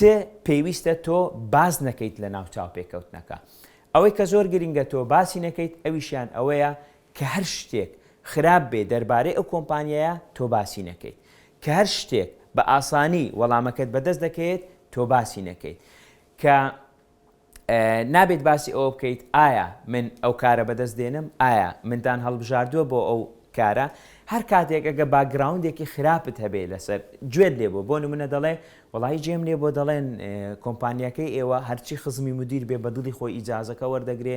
پێویستە تۆ باس نەکەیت لەناو چاوپێکەوتنەکە؟ ئەوەی کە زۆر گرنگە تۆ باسی نەکەیت ئەویشیان ئەوەیە کە هەر شتێک خراپ بێ دەربارەی ئەو کۆمپانیایە تۆ باسی نەکەیت کە هەر شتێک بە ئاسانی وەڵامەکەت بەدەست دەکەیت تۆ باسی نەکەیت کە نابێت باسی ئەوە بکەیت ئایا من ئەو کارە بەدەست دێنم ئایا مندان هەڵبژاردووە بۆ ئەو کارە هەر کاتێک ئەگە باگراوندێکی خراپت هەبێ لەسەر گوێت لێ بۆ بۆ نمونە دەڵێ وڵی جێم لێ بۆ دەڵێن کۆمپانیەکەی ئێوە هەرچی خزمی مدیر بێ بەدڵی خۆی ئیجازەکە وەردەگرێ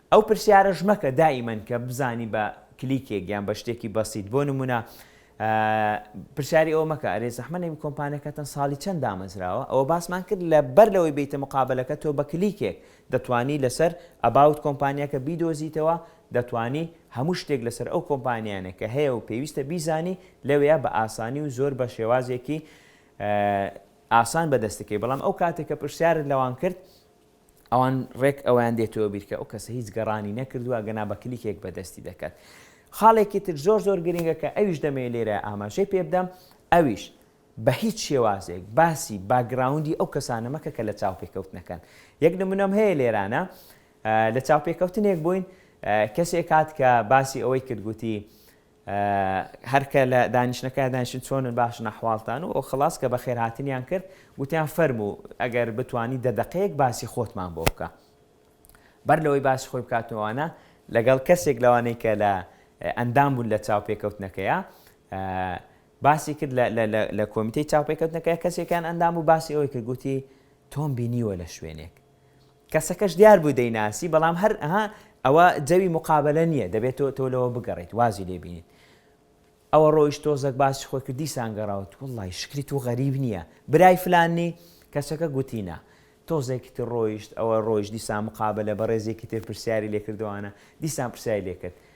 ئەو پرسیارەش مەکە دائیمەن کە بزانی بە کلیکێک یان بە شتێکی بەسیت بۆ نمونە پرسیاری ئەوە مەکە ئەرێ زەحمە نەبی کۆمپانەکەتان ساڵی چەند دامەزراوە ئەوە باسمان کرد لە بەر لەوەی بیتە مقابلەکە تۆ بە کلیکێک دەتوانی لەسەر ئەباوت کۆمپانیاکە بیدۆزیتەوە دەتوانی هەموو شتێک لەسەر ئەو کۆمپانیانە کە هەیە و پێویستە بیزانی لەوەیە بە ئاسانی و زۆر بە شێوازێکی ئاسان بەدەستەکەی بەڵام ئەو کاتێکە پرسیارت لەوان کرد ئەوان ڕێک ئەوەیان دێتەوە بیر کە ئەو کەسە هیچ گەڕانی نەکردووە ئەگەنا بە کلیکێک بەدەستی دەکات خاڵێکی تر زۆر زۆر گرنگە کە ئەویش دەمەوێت لێرە ئاماژەی پێ بدەم ئەویش بە هیچ شێوازێک باسی باگراوندی ئەو کەسانە مەکە کە لە چاوپێکەوتنەکەن یەک نمونەم هەیە لێرانە لە چاوپێکەوتنێک بووین کەسێک هات کە باسی ئەوەی کردگوتی هەر کە لە دانیشتنەکەیان دانیشتن چۆنن باشن ئەحواڵتان و خڵاس کە بەخێرهاتنیان کرد گوتیان فەرموو ئەگەر بتوانی دە دەقەیەک باسی خۆتمان بۆ بکە بەر لەوەی باسی خۆی بکاتەوەوانە لەگەڵ کەسێک لەوانەی کە لە ئەندام بوون لە چاوپێکەوتنەکەیە باسی کرد لە کۆمیتەی چاوپێکەوتنەکە کەسێکیان ئەندام و باسی ئەوەی کرد گوتی تۆم بینیوە لە شوێنێک کەسەکەش دیار بوو دەیناسی بەڵام هەر ها ئەوە جەوی مقابلە نییە دەبێت تۆ تۆ لەوە بگەڕیت وازی لێبینیت ئەوە ڕۆیش تۆزەک باسی خۆی کرد دیسان گەڕاوت وڵی شکری تو غەریب نییە برای فلاننی کەسەکە گوتینە تۆزێکی تر ڕۆیشت ئەوە ڕۆیش دیسان مقابلە بە ڕێزێکی تر پرسیاری لێکردوانە دیسان پرسیای لێکرد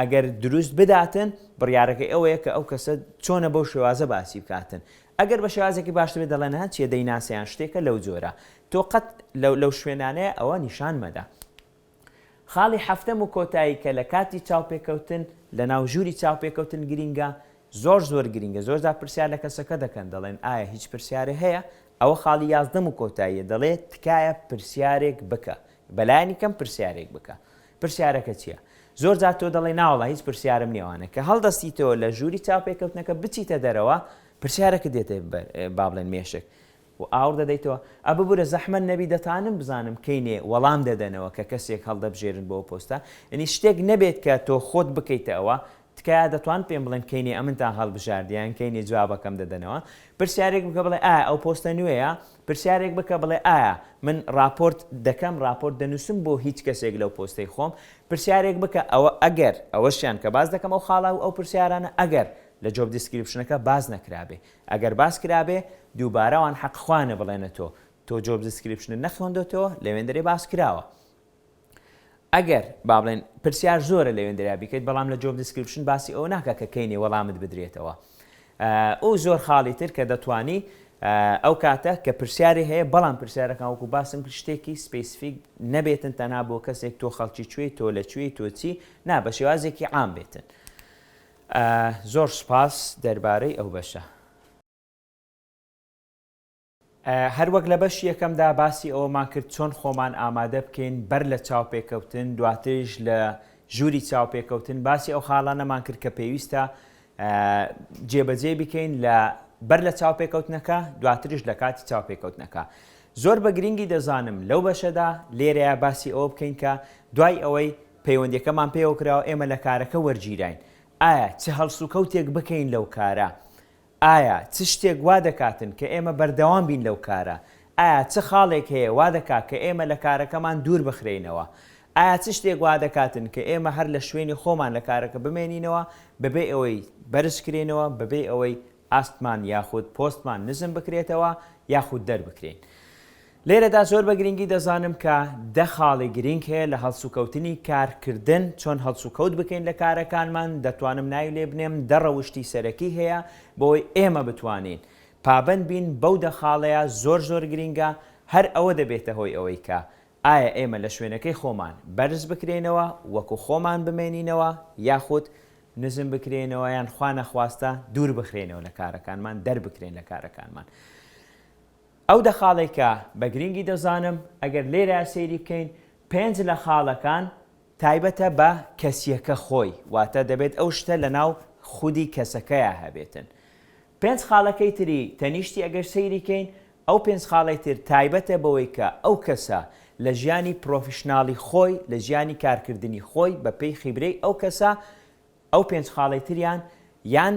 ئەگەر دروست بداتن بڕیارەکەی ئەوەیە کە ئەو کەسە چۆنە بەو شێوازە باسی بکاتن ئەگەر بە شێوازێکی باشتر بێت دەڵێن ها چیە دەیناسێ یان شتێکە لەو جۆرە تۆ قەت لەو لەو شوێنانەیە ئەوە نیشان مەدە خاڵی حەفتەم و کۆتایی کە لە کاتی چاوپێکەوتن لە ناو ژووری چاوپێکەوتن گرینگە زۆر زۆر گرینگە زۆرجار پرسیار لە کەسەکە دەکەن دەڵێن ئایا هیچ پرسیارێ هەیە ئەوە خاڵی یازدەم و کۆتاییە دەڵێت تکایە پرسیارێک بکە بەلایانی کەم پرسیارێک بکە پرسیارەکە چیە؟ زۆر جار تۆ دەڵێی ناوەڵا هیچ پرسیارم نیە وانە کە هەڵدەستیتەوە لە ژووری چاوپێکەوتنەکە بچیتە دەرەوە پرسیارەکە دێتە بەر با بڵێن مێشک و ئاوڕ دەدەیتەوە ئە ببورە زەحمەت نەبی دەتانم بزانم کەینێ وەڵام دەدەنەوە کە کەسێک هەڵدەبژێرن بۆ ئەو پۆستە یەنی شتێک نەبێت کە تۆ خۆت بکەیتە ئەوە تکایە دەتوان پێم بڵێن کەینێ ئەمنتان هەڵبژاردی یان کەینێ جوابەکەم دەدەنەوە پرسیارێک بکە بڵێ ئایا ئەو پۆستە نوێیە پرسیارێک بکە بڵێ ئایا من ڕاپۆرت دەکەم ڕاپۆرت دەنووسم بۆ هیچ کەسێک لەو پۆستەی خۆم پرسیارێک بکە ئەوە ئەگەر ئەوەشیان کە باس دەکەم ئەو خاڵا و ئەو پرسیارانە ئەگەر لە جۆب دیسکریپشنەکە باس نەکرابێ ئەگەر باس کرابێ دووبارە وان حەق خوانە بڵێنە تۆ تۆ جۆب دیسکریپشنت نەخوێندۆتەوە لەوێندەرێ باس کراوە ئەگەر با بڵێن پرسیار زۆرە لەوێندەریا بیکەیت بەڵام لە جۆب دیسکریپشن باسی ئەوە ناکا کە کەینێ وەڵامت بدرێتەوە ئەو زۆر خاڵی تر کە دەتوانی ئەو کاتە کە پرسیاری هەیە بەڵام پرسیارەکان وەکو باسم کرد شتێکی سپیسفیک نەبێتن تەنها بۆ کەسێک تۆ خەڵکی کوێی تۆ لە کوێی تۆچی نا بە شێوازێکی عام بێتن زۆر سپاس دەربارەی ئەو بەشە هەروەک لە بەشی یەکەمدا باسی ئەوەمان کرد چۆن خۆمان ئامادە بکەین بەر لە چاوپێکەوتن، دواتریش لە ژووری چاوپێکەوتن باسی ئەو خاڵانەمان کرد کە پێویستە جێبەجێ بکەین لە بەر لە چاوپێکەوتنەکە دواتریش لە کاتی چاوپێکەوتنەکە. زۆر بە گرنگی دەزانم لەو بەشەدا لێرەیە باسی ئەوە بکەین کە دوای ئەوەی پەیوەندەکەمان پێوە کراوە ئێمە لە کارەکە وەرگیراین ئایا چ هەڵسوکەوتێک بکەین لەو کارە ئایا چ شتێک وا دەکاتن کە ئێمە بەردەوام بین لەو کارە؟ ئایا چ خاڵێک هەیە وا دەکات کە ئێمە لە کارەکەمان دوور بخرێینەوە؟ ئایا چ شتێک وا دەکاتن کە ئێمە هەر لە شوێنی خۆمان لە کارەکە بمێنینەوە بەبێ ئەوەی بەرزکرێینەوە، بەبێ ئەوەی ئاستمان یاخود پۆستمان نزم بکرێتەوە یاخود دەربکرێین؟ لێرەدا زۆر بە گرنگی دەزانم کە دە خاڵی گرنگ هەیە لە هەڵسوکەوتنی کارکردن، چۆن هەڵسوکەوت بکەین لە کارەکانمان، دەتوانم ناوی لێ بنێم، دە ڕەوشتی سەرەکی هەیە بۆوەی ئێمە بتوانین پابەند بین بەو دە خاڵەیە زۆر زۆر گرنگە، هەر ئەوە دەبێتە هۆی ئەوەی کە ئایا ئێمە لە شوێنەکەی خۆمان بەرز بکرێینەوە وەکو خۆمان بمێنینەوە یاخود نزم بکرێینەوە یان خوا نەخواستە دوور بخرێینەوە لە کارەکانمان دەربکرێین لە کارەکانمان. ئەو دە خاڵەی کە بە گرینگی دەزانم ئەگەر لێرە سەیری بکەین پێنج لە خاڵەکان، تایبەتە بە کەسیەکە خۆی واتە دەبێت ئەو شتە لە ناو خودی کەسەکەیا هەبێتن پێنج خاڵەکەی تری تەنیشتی ئەگەر سەیری کەین ئەو پێنج خاڵەی تر تایبەتە بەوەی کە ئەو کەسە لە ژیانی پرۆفیشناڵی خۆی لە ژیانی کارکردنی خۆی بە پێی خیبرەی ئەو کەسە ئەو پێنج خاڵەی تریان یان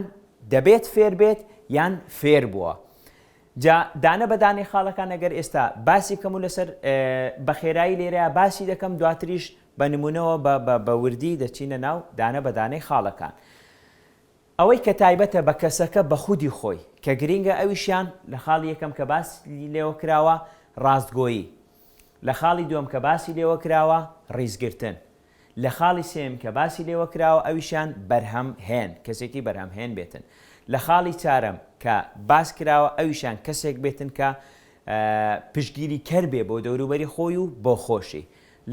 دەبێت فێر بێت یان فێر بووە جا دانە بە دانەی خاڵەکان ئەگەر ئێستا باسی کەم و لەسەر بەخێرایی لێرە باسی دەکەم دواتریش بە نمونەوە بە وردی دەچینە ناو دانە بە دانەی خاڵەکان ئەوەی کە تایبەتە بە کەسەکە بە خودی خۆی کە گرینگە ئەویشیان لە خاڵی یەکەم کە باس لێوە کراوە ڕاستگۆیی لە خاڵی دووەم کە باسی لێوە کراوە ڕیزگرتن لە خاڵی سێیەم کە باسی لێوە کراوە ئەویشیان بەرهەم هێن، کەسێکی بەرهەم هێن بێتن. لە خاڵی چارەم کە باس کراوە ئەویشیان کەسێک بێتن کە پشتگیری کەر بێ بۆ دەوروبەری خۆی و بۆ خۆشی.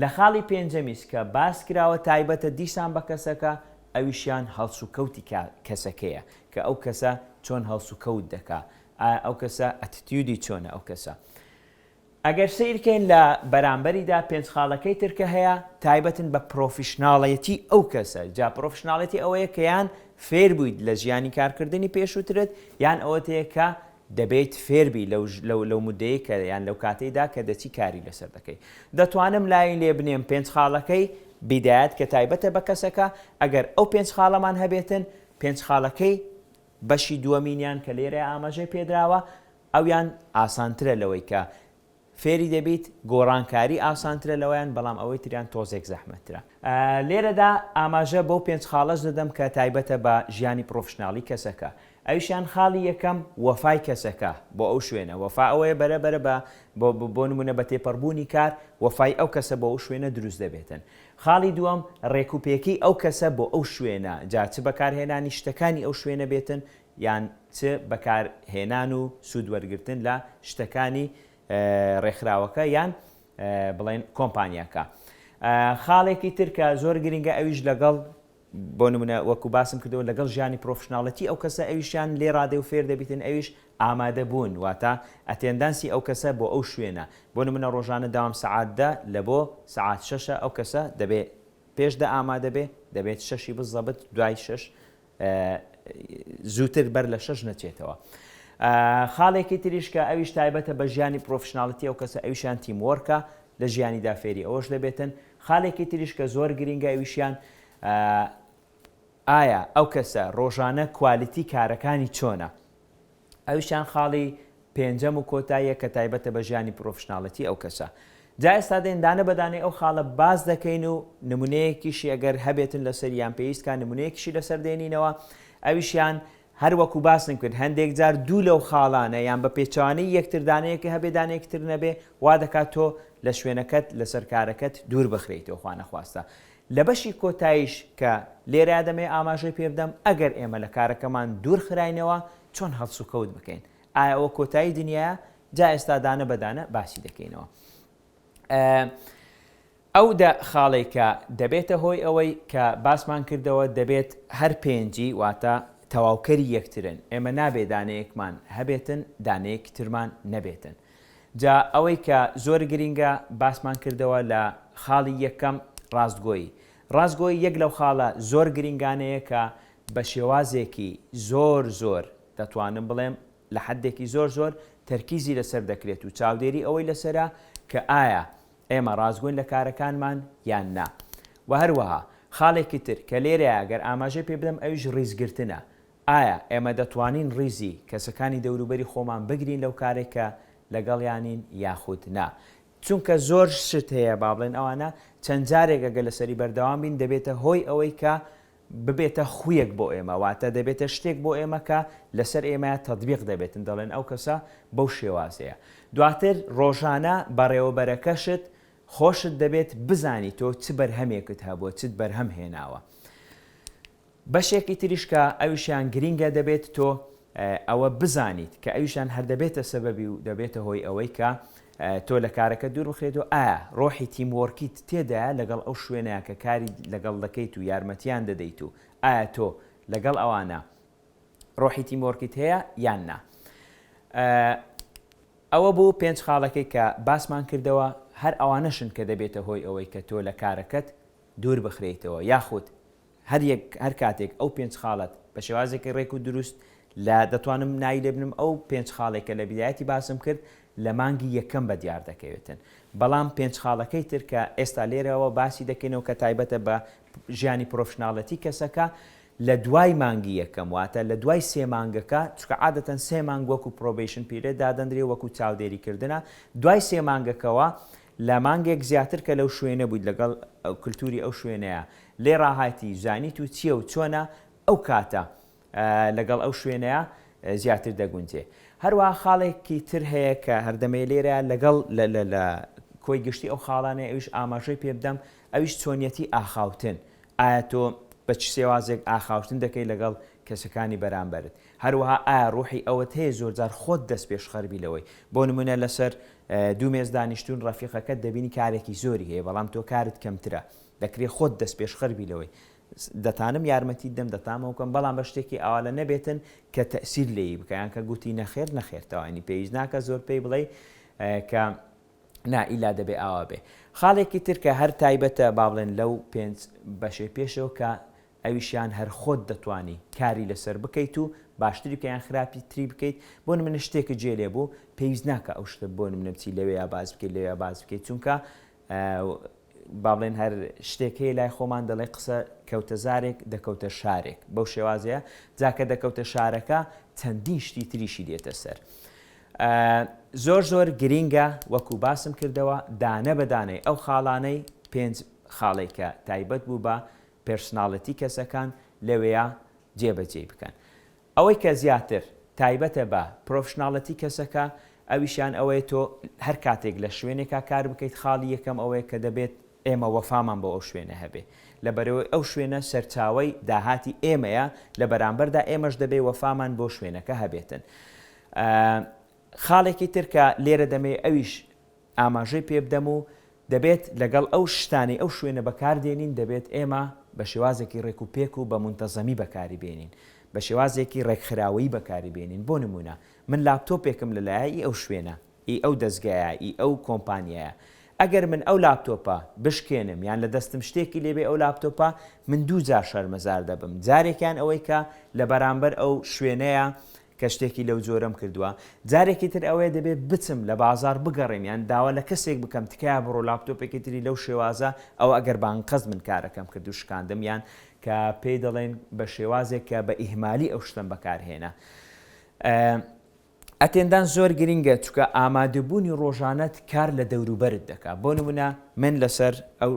لە خاڵی پێنجەمیس کە باس کراوە تایبەتە دیسان بە کەسەکە ئەویشیان هەڵسوکەوتی کا کەسەکەیە کە ئەو کەسە چۆن هەڵسوکەوت دەکا ئایا ئەو کەسە ئەتتیودی چۆنە ئەو کەسە. ئەگەر سەیر کەین لە بەرامبەریدا پێنج خاڵەکەی تر کە هەیە تایبەتن بە پرۆفیشناڵێتی ئەو کەسە، جا پرۆفیشناڵێتی ئەوەیە کە یان فێر بوویت لە ژیانی کارکردنی پێشووترت یان ئەوەت هەیە کە دەبێیت فێر بی لەو لەو مودەی کە یان لەو کاتەیدا کە دەچی کاری لەسەر دەکەی دەتوانم لای لێ بنێم پێنج خاڵەکەی بیدایەت کە تایبەتە بە کەسەکە ئەگەر ئەو پێنج خاڵەمان هەبێتن پێنج خاڵەکەی بەشی دووەمینیان کە لێرە ئاماژەی پێدراوە ئەویان ئاسانترە لەوەی کە فێری دەبیت، گۆڕانکاری ئاسانترە لەویان بەڵام ئەوەی تریان تۆزێک زەحمەتترە. لێرەدا ئاماژە بەو پێنج خاڵەش دەدەم کە تایبەتە بە ژیانی پڕۆفشناڵی کەسەکە. ئەویشیان خاڵی یەکەم وەفای کەسەکە بۆ ئەو شوێنە، وەفا ئەوەیە بەرە بەرە بە بۆ نموونە بە تێپەڕبوونی کار وەفای ئەو کەسە بۆ ئەو شوێنە دروست دەبێتن. خاڵی دووەم ڕێکوپێکی ئەو کەسە بۆ ئەو شوێنە جا چ بەکارهێنانی شتەکانی ئەو شوێنە بێتن یان چ بەکار هێنان و سوود وەرگرتن لە شتەکانی ڕێکخراوەکە یان بڵێن کۆمپانیاکە. خاڵێکی تر کە زۆر گرینگە ئەویش لەگەڵ بۆ نمونە وەکو باسم کردەوە لەگەڵ ژیانی پرۆفشناڵەتی ئەو کەسە ئەویشیان لێ ڕادێ و فێر دەبیتن ئەویش ئامادە بوون واتە ئەتێندانسی ئەو کەسە بۆ ئەو شوێنە بۆ نمونە ڕۆژانە داوام سەعات دە لە بۆ سەعات شەشە ئەو کەسە دەبێ پێش دە ئامادە بێ دەبێت شەشی بزەبت دوای شەش زووتر بەر لە شەش نەچێتەوە. خاڵێکی تریش کە ئەویش تایبەتە بە ژیانی پرۆفشناڵیتی ئەو کەسە ئەویشیان تیم وۆرکە، لە ژیانیدا فێری ئەوەش دەبێتن. خالێکی تریش کە زۆر گرینگە ئەویشیان ئایا ئەو کەسە ڕۆژانە کوالیتی کارەکانی چۆنە؟ ئەویشیان خاڵی پێنجەم و کۆتاییە کە تایبەتە بە ژیانی پڕۆفشناڵێتی ئەو کەسە. جا ئێستا دێن دانە بە دانەی ئەو خاڵە باس دەکەین و نمونەیەکیشی ئەگەر هەبێتن لەسەری یان پێویست کا نمونەیەکیشی لەسەر دێنینەوە ئەویشیان هەر وەکو باسم کرد هەندێک جار دوو لەو خاڵانە یان بە پێچەوانەی یەکتر دانەیەکە هەبێ دانەیەکی تر نەبێ وا دەکات تۆ لە شوێنەکەت لەسەر کارەکەت دوور بخرێیتەوە خوا نەخواستە لە بەشی کۆتاییش کە لێرەیا دەمەوێت ئاماژەی پێ بدەم، ئەگەر ئێمە لە کارەکەمان دوور خراینەوە، چۆن هەڵسوکەوت بکەین؟ ئایا ئەوە کۆتایی دنیایە؟ جا ئێستا دانە بە دانە باسی دەکەینەوە. ئەو دە خاڵەی کە دەبێتە هۆی ئەوەی کە باسمان کردەوە دەبێت هەر پێنجی واتە تەواوکەری یەکترن، ئێمە نابێت دانەیەکمان هەبێتن دانەیەکی ترمان نەبێتن. جا ئەوەی کە زۆر گرینگە باسمان کردەوە لە خاڵی یەکەم ڕاستگۆیی. ڕاستگۆیی یەک لەو خاڵە زۆر گرینگانەیە کە بە شێوازێکی زۆر زۆر دەتوانم بڵێم لە حەدێکی زۆر زۆر تەرکیزی لەسەر دەکرێت و چاودێری ئەوەی لەسەرە کە ئایا ئێمە ڕاستگۆین لە کارەکانمان یان نا. وە هەروەها خاڵێکی تر کە لێرەیە گەر ئاماژەی پێ بدەم ئەویش ڕیزگرتنە ئایا ئێمە دەتوانین ڕیزی کەسەکانی دەوروبەری خۆمان بگرین لەو کارەی کە لەگەڵیانین یاخود نا؟ چونکە زۆر شت هەیە با بڵێن ئەوانە چەند جارێک ئەگەر لەسەری بەردەوام بین دەبێتە هۆی ئەوەی کە ببێتە خویەک بۆ ئێمە واتە دەبێتە شتێک بۆ ئێمە کە لەسەر ئێمەیا تەتبیق دەبێتن دەڵێن ئەو کەسە بەو شێوازەیە دواتر ڕۆژانە بەڕێوەبەرەکەشت خۆشت دەبێت بزانی تۆ چ بەرهەمێکت هەبووە چت بەرهەم هێناوە. بەشێکی تریش کە ئەویشیان گرینگە دەبێت تۆ ئەوە بزانیت کە ئەویشان هەر دەبێتە سەبەبی و دەبێتە هۆی ئەوەی کە تۆ لە کارەکە دوور بخرێت و ئایا ڕۆحی تیم وۆرکیت تێدایە لەگەڵ ئەو شوێنە کە کاری لەگەڵ دەکەیت و یارمەتیان دەدەیت و ئایا تۆ لەگەڵ ئەوانە ڕۆحی تیم وۆرکیت هەیە یان نا ئەوە بوو پێنج خاڵەکەی کە باسمان کردەوە هەر ئەوانەشن کە دەبێتە هۆی ئەوەی کە تۆ لە کارەکەت دوور بخرێیتەوە یاخود هەر یەک هەر کاتێک ئەو پێنج خاڵەت بە شێوازێکی ڕێک و دروست لە دەتوانم ناوی لێ بنم ئەو پێنج خاڵەی کە لە بیدایەتی باسم کرد لە مانگی یەکەم بە دیار دەکەوێتن بەڵام پێنج خاڵەکەی تر کە ئێستا لێرەوە باسی دەکەینەوە کە تایبەتە بە ژیانی پرۆفشناڵێتی کەسەکە لە دوای مانگی یەکەم واتە لە دوای سێ مانگەکە چکە عادەتەن سێ مانگ وەکو پرۆبیشن پیرێ دادەندرێ وەکو چاودێری کردنە دوای سێ مانگەکەوە لە مانگێک زیاتر کە لەو شوێنە بوویت لەگەڵ کللتوری ئەو شوێنەیە لێ ڕاهاتی زانیت و چیە و چۆنە ئەو کاتە لەگەڵ ئەو شوێنەیا زیاتر دەگونجێ هەروەها خاڵێکی تر هەیە کە هەردەمەی لێرە لەگەڵ لە کۆی گشتی ئەو خاڵانەی ئەویش ئاماژەی پێ بدەم ئەویش چۆنیەتی ئاخاوتن ئایا تۆ بە چ سێوازێک ئاخاوتن دەکەی لەگەڵ کەسەکانی بەرامبەرت هەروەها ئایا ڕوحی ئەوەت هەیە زۆرجار خۆت دەست پێشخەربی لەوەی بۆ نمونە لەسەر دوو مێز دانیشتون ڕەفیقەکەت دەبینی کارێکی زۆری هەیە بەڵام تۆ کارت کەمترە دەکرێ خۆت دەستپێشخەر بی لەوەی. دەتانم یارمەتیت دەم، دەتامەوە کەم، بەڵام بە شتێکی ئاوالە نەبێتن کە تەئسیر لێ ی بکا، یان کە گوتی نەخێر، نەخێر تەواو یانی پێویست ناکا زۆر پێی بڵێی کە نا ئیلا دەبێ ئاوا بێ. خاڵێکی تر کە هەر تایبەتە با بڵێن لەو پێنج بەشەی پێشەوە کە ئەویشیان هەر خۆت دەتوانی کاری لە سەر بکەیت و باشتری بکەی یان خراپی تری بکەیت، بۆ نمونە شتێکت جێ لێ بوو پێویست ناکا ئەو شتە بۆ نمونە بچی لەوێیا باس بکەی لەوێیا باس بکەی چونکە با بڵێن هەر شتێک هەیە لای خۆمان دەڵێ قسە کەوتە زارێک دەکەوتە شارێک بەو شێوازەیە جا کە دەکەوتە شارەکە چەندین شتی تریشی دێتە سەر زۆر زۆر گرینگە وەکو باسم کردەوە دانە بەدانەی ئەو خاڵانەی پێنج خاڵی کە تایبەت بوو بە پرسناڵەتی کەسەکان لەوەیە جێبەجێ بکەن ئەوەی کە زیاتر تایبەتە بە پرۆفشناڵێتی کەسەکە ئەویشیان ئەوەیە تۆ هەر کاتێک لە شوێنێکا کار بکەیت خاڵی یەکەم ئەوەیە کە دەبێت ئێمە وەفامان بۆ ئەو شوێنە هەبێ لەبەرئەوەی ئەو شوێنە سەرچاوەی داهاتی ئێمەیە لە بەرامبەردا ئێمەش دەبێ وەفامان بۆ شوێنەکە هەبێتن خاڵێکی تر کە لێرە دەمەوێ ئەویش ئاماژەی پێ بدەم و دەبێت لەگەڵ ئەو شتانەی ئەو شوێنە بەکار دێنین دەبێت ئێمە بە شێوازێکی ڕێک و پێک و بە مونتەزەمی بەکاری بێنین بە شێوازێکی ڕێکخراوەیی بەکاری بێنین بۆ نموونە من لاپتۆپێکم لە لایە ی ئەو شوێنە ی ئەو دەزگایە ی ئەو کۆمپانیایە ئەگەر من ئەو لاپتۆپە بشکێنم یان لە دەستم شتێکی لێ بێ ئەو لاپتۆپە من دوو جار شەرمەزار دەبم جارێکیان ئەوەی کە لە بەرامبەر ئەو شوێنەیە کە شتێکی لەو جۆرەم کردووە جارێکی تر ئەوەیە دەبێت بچم لە بازاڕ بگەڕێم یان داوا لە کەسێک بکەم تکایە بڕۆ لاپتۆپێکی تری لەو شێوازە ئەوە ئەگەر بانقەست من کارەکەم کرد و شکاندم یان کە پێی دەڵێن بە شێوازێک کە بە ئیهمالی ئەو شتم بەکارهێنا ئەتێندان زۆر گرنگە چکە ئامادەبوونی ڕۆژانەت کار لە دەوروبەرت دەکات بۆ نمونە من لەسەر ئەو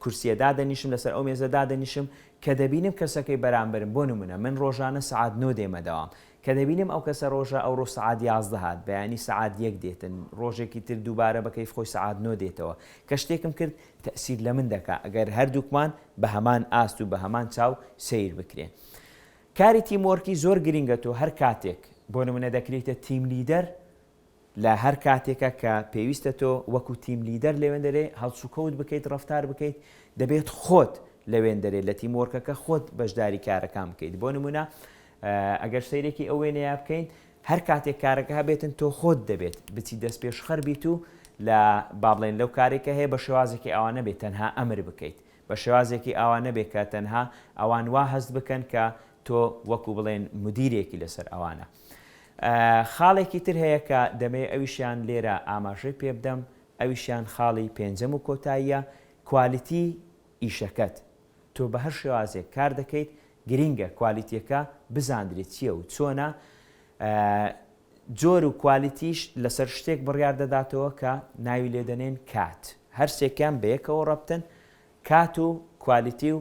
کورسیە دادەنیشم لەسەر ئەو مێزە دادەنیشم کە دەبینم کەسەکەی بەرامبەرم بۆ نمونە من ڕۆژانە سەعات نۆ دێمە دەوام کە دەبینم ئەو کەسە ڕۆژە ئەوڕۆ سەعات یازدە هات بەیانی سەعات یەک دێتن ڕۆژێکی تر دووبارە بە کەیف خۆی سەعات نۆ دێتەوە کە شتێکم کرد تەئسیر لە من دەکا ئەگەر هەردووکمان بە هەمان ئاست و بە هەمان چاو سەیر بکرێ کاری تیم وۆرکی زۆر گرینگە تۆ هەر کاتێک بۆ نمونە دەکرێیتە تیم لیدەر لە هەر کاتێکا کە پێویستە تۆ وەکو تیم لیدەر لەوێندەرێ هەڵسوکەوت بکەیت ڕەفتار بکەیت دەبێت خۆت لەوێندەرێ لە تیم وۆرکەکە خۆت بەشداری کارەکان بکەیت بۆ نمونە ئەگەر سەیرێکی ئەو وێنەیە بکەین هەر کاتێک کارەکە هەبێتن تۆ خۆت دەبێت بچی دەست پێشخەر بیت و لە با بڵێن لەو کارێکە هەیە بە شێوازێکی ئەوە نەبێت تەنها ئەمر بکەیت بە شێوازێکی ئەوە نەبێت کە تەنها ئەوان وا هەست بکەن کە تۆ وەکو بڵێن مدیرێکی لەسەر ئەوانە خاڵێکی تر هەیە کە دەمەوێت ئەویشیان لێرە ئاماژەی پێ بدەم، ئەویشیان خاڵی پێنجەم و کۆتاییە، کوالیتی ئیشەکەت. تۆ بە هەر شێوازێک کار دەکەیت، گرینگە کوالیتییەکە بزاندرێت چییە و چۆنە. جۆر و کوالیتیش لەسەر شتێک بڕیار دەداتەوە کە ناوی لێ دەنێن کات. هەر سێکیان بە یەکەوە ڕەبتن، کات و کوالیتی و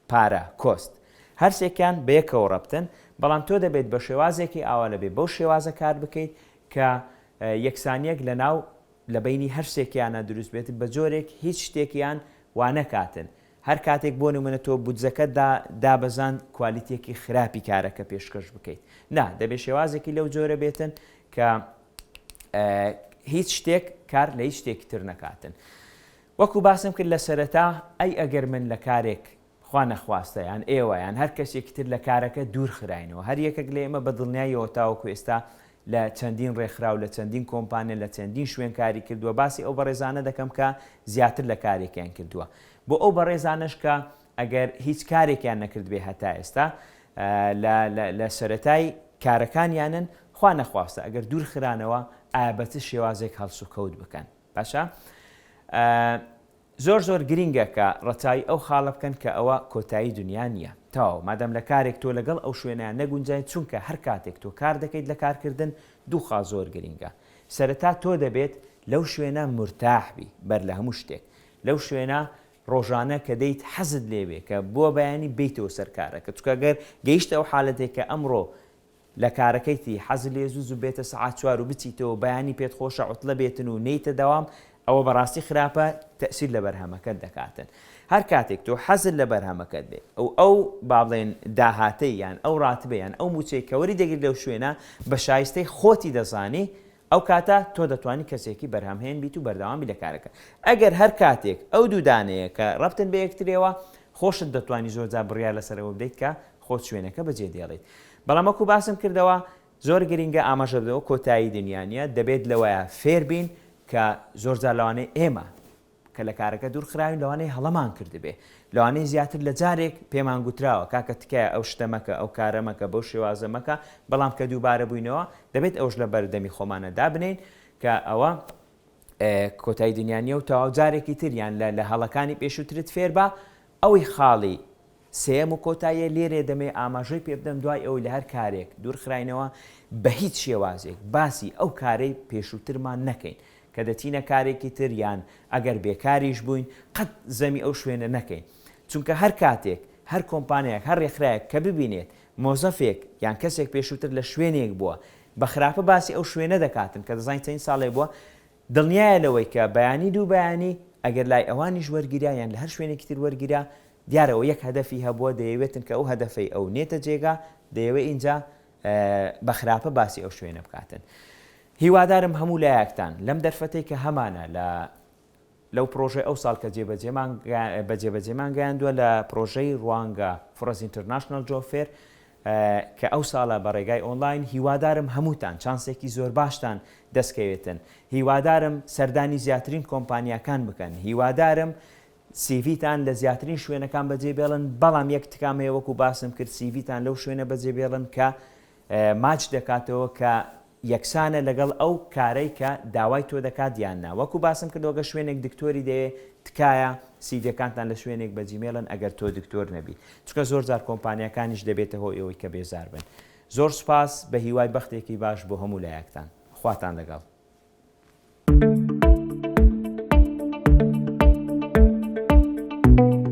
پارە، کۆست. هەرسێکیان بەیەکەوە ڕەبتن، بەڵام تۆ دەبێت بەشێوازێکی ئاوا لەبێ بەو شێوازە کار بکەیت کە یەکسانیەک لەناو لەبەینی هەرسێکیانا دروست بێت بەجۆرێک هیچ شتێکیان وانەکاتن هەرکاتێک بۆ نمونە تۆ بودجەکەت دابەزاند کوالیتیەکی خراپی کارەکە پێشکەش بکەیت نا دەبێت شێوازێکی لەو جۆرە بێتن کە هیچ شتێک کار لە هیچ شتێکی تر نەکاتن. وەکو باسم کرد لە سەرەتا، ئەی ئەگەر من لە کارێک خوا نەخواستە یان ئێوە یان هەر کەسێکی تر لە کارەکە دوور خراینەوە، هەر یەکەک لە ئێمە بە دڵنیاییەوە تاوەکو ئێستا لە چەندین ڕێکخراو، لە چەندین کۆمپانیا، لە چەندین شوێن کاری کردووە، باسی ئەو بەڕێزانە دەکەم کە زیاتر لە کارێکیان کردووە، بۆ ئەو بەڕێزانەش کە ئەگەر هیچ کارێکیان نەکردبێ هەتا ئێستا لە لە سەرەتای کارەکانیانن، خوا نەخواستە ئەگەر دوور خرانەوە ئایا بە چ شێوازێک هەڵسوکەوت بکەن؟ باشە زۆر زۆر گرینگە کە ڕەچاوی ئەو خاڵە بکەن کە ئەوە کۆتایی دونیا نیە تەواو مادام لە کارێک تۆ لەگەڵ ئەو شوێنە نەگونجای چونکە هەر کاتێک تۆ کار دەکەیت لە کارکردن دوو خاڵ زۆر گرینگە سەرەتا تۆ دەبێت لەو شوێنە مورتاح بی بەر لە هەموو شتێک لەو شوێنە ڕۆژانە کە دەیت حەزت لێوێ کە بۆ بەیانی بیتەوە سەر کارەکە چکە گەر گەیشتە ئەو حالەتێک کە ئەمڕۆ لە کارەکەیتی حەز لێ زوو زوو بێتە سەعات چوار و بچیتەوە بەیانی پێت خۆشە عوتلە بێتن و نێیتە دەوام ئەوە بەڕاستی خراپە تەئسیر لە بەرهەمەکەت دەکاتن هەر کاتێک تۆ حەزت لە بەرهەمەکەت بێ و ئەو با بڵێن داهاتەی یان ئەو ڕاتبە یان ئەو موچەی کە وەری دەگری لەو شوێنە بە شایستەی خۆتی دەزانی ئەو کاتە تۆ دەتوانی کەسێکی بەرهەمهێن بیت و بەردەوام بی لە کارەکە. ئەگەر هەر کاتێک ئەو دوو دانەیە کە رەبتن بە یەکتریەوە، خۆشت دەتوانی زۆر جار بڕیار لەسەر ئەوە بدەیت کە خۆت شوێنەکە بەجێ دێڵیت. بەڵام وەکو باسم کردەوە زۆر گرینگە ئاماژە بدەوە کۆتایی دنیا نیە، دەبێت لەوەیا فێر بین کە زۆر جار لەوانەیە ئێمە، کە لە کارەکە دوور خراوین لەوانەیە هەڵەمان کردبێ لەوانەیە زیاتر لە جارێک پێمان گوتراوە کاکە تکایە ئەو شتە مەکە ئەو کارە مەکە بەو شێوازە مەکە بەڵام کە دووبارە بووینەوە دەبێت ئەوش لە بەردەمی خۆمانە دابنێین کە ئەوە کۆتای دنیا نیە و تەواو جارێکی تر یان لە لە هەڵەکانی پێشووترت فێربە ئەوی خاڵی سێیەم و کۆتاییە لێرێ دەمەوێ ئاماژەی پێ بدەم دوای ئەوەی لە هەر کارێک دوورخراینەوە بە هیچ شێوازێک باسی ئەو کارەی پێشووترمان نەکەین کە دەچینە کارێکی تر یان ئەگەر بێکاریش بووین قەت زەمی ئەو شوێنە نەکەین چونکە هەر کاتێک هەر کۆمپانیایەک هەر رێکخراوێک کە ببینێت مۆزەفێک یان کەسێک پێشووتر لە شوێنێک بووە بە خراپە باسی ئەو شوێنە دەکاتن کە دەزانین چەند ساڵێک بووە دڵنیایە لەوەی کە بەیانی دوو بەیانی، ئەگەر لای ئەوانیش وەرگیرا یان لە هەر شوێنێکی تر وەرگیرا، دیارە ئەو یەک هەدەفی هەبووە، دەیەوێتن کە ئەو هەدەفەی ئەو نێتە جێگا، دەیەوێ ئینجا بە خراپە باسی ئەو شوێنە بکاتن. هیوادارم هەموو لایەکتان لەم دەرفەتەی کە هەمانە لە لەو پڕۆژەی ئەوساڵ کە جێبەجێمان بە جێبەجێمان گەیاندووە لە پڕۆژەی ڕوانگە فرۆزینترناشناڵ جۆب فێر، کە ئەو ساڵە بە ڕێگای ئۆنڵاین هیوادارم هەمووتان چانسێکی زۆرباشتان دەست کەوێتن هیوادارم سەردانی زیاترین کۆمپانیاکان بکەن هیوادارم سیڤیتان لە زیاترین شوێنەکان بەجێ بێڵن بەڵام یەک تکام هەیە وەکو باسم کرد سیڤیتان لەو شوێنە بەجێ بێڵن کە ماچ دەکاتەوە کە یەکسانە لەگەڵ ئەو کارەی کە داوای تۆ دەکات یان نا وەکو باسم کردەوە گەر شوێنێک دکتۆری دەوێت تکایە سیڤیەکانتان لە شوێنێک بە جیمێڵن ئەگەر تۆ دکتۆر نەبی چونکە زۆر جار کۆمپانیاکانیش دەبێتە هۆی ئەوەی کە بێزار بن زۆر سوپاس بە هیوای بەختێکی باش بۆ هەموو لایەکتان خواتان لەگەڵ.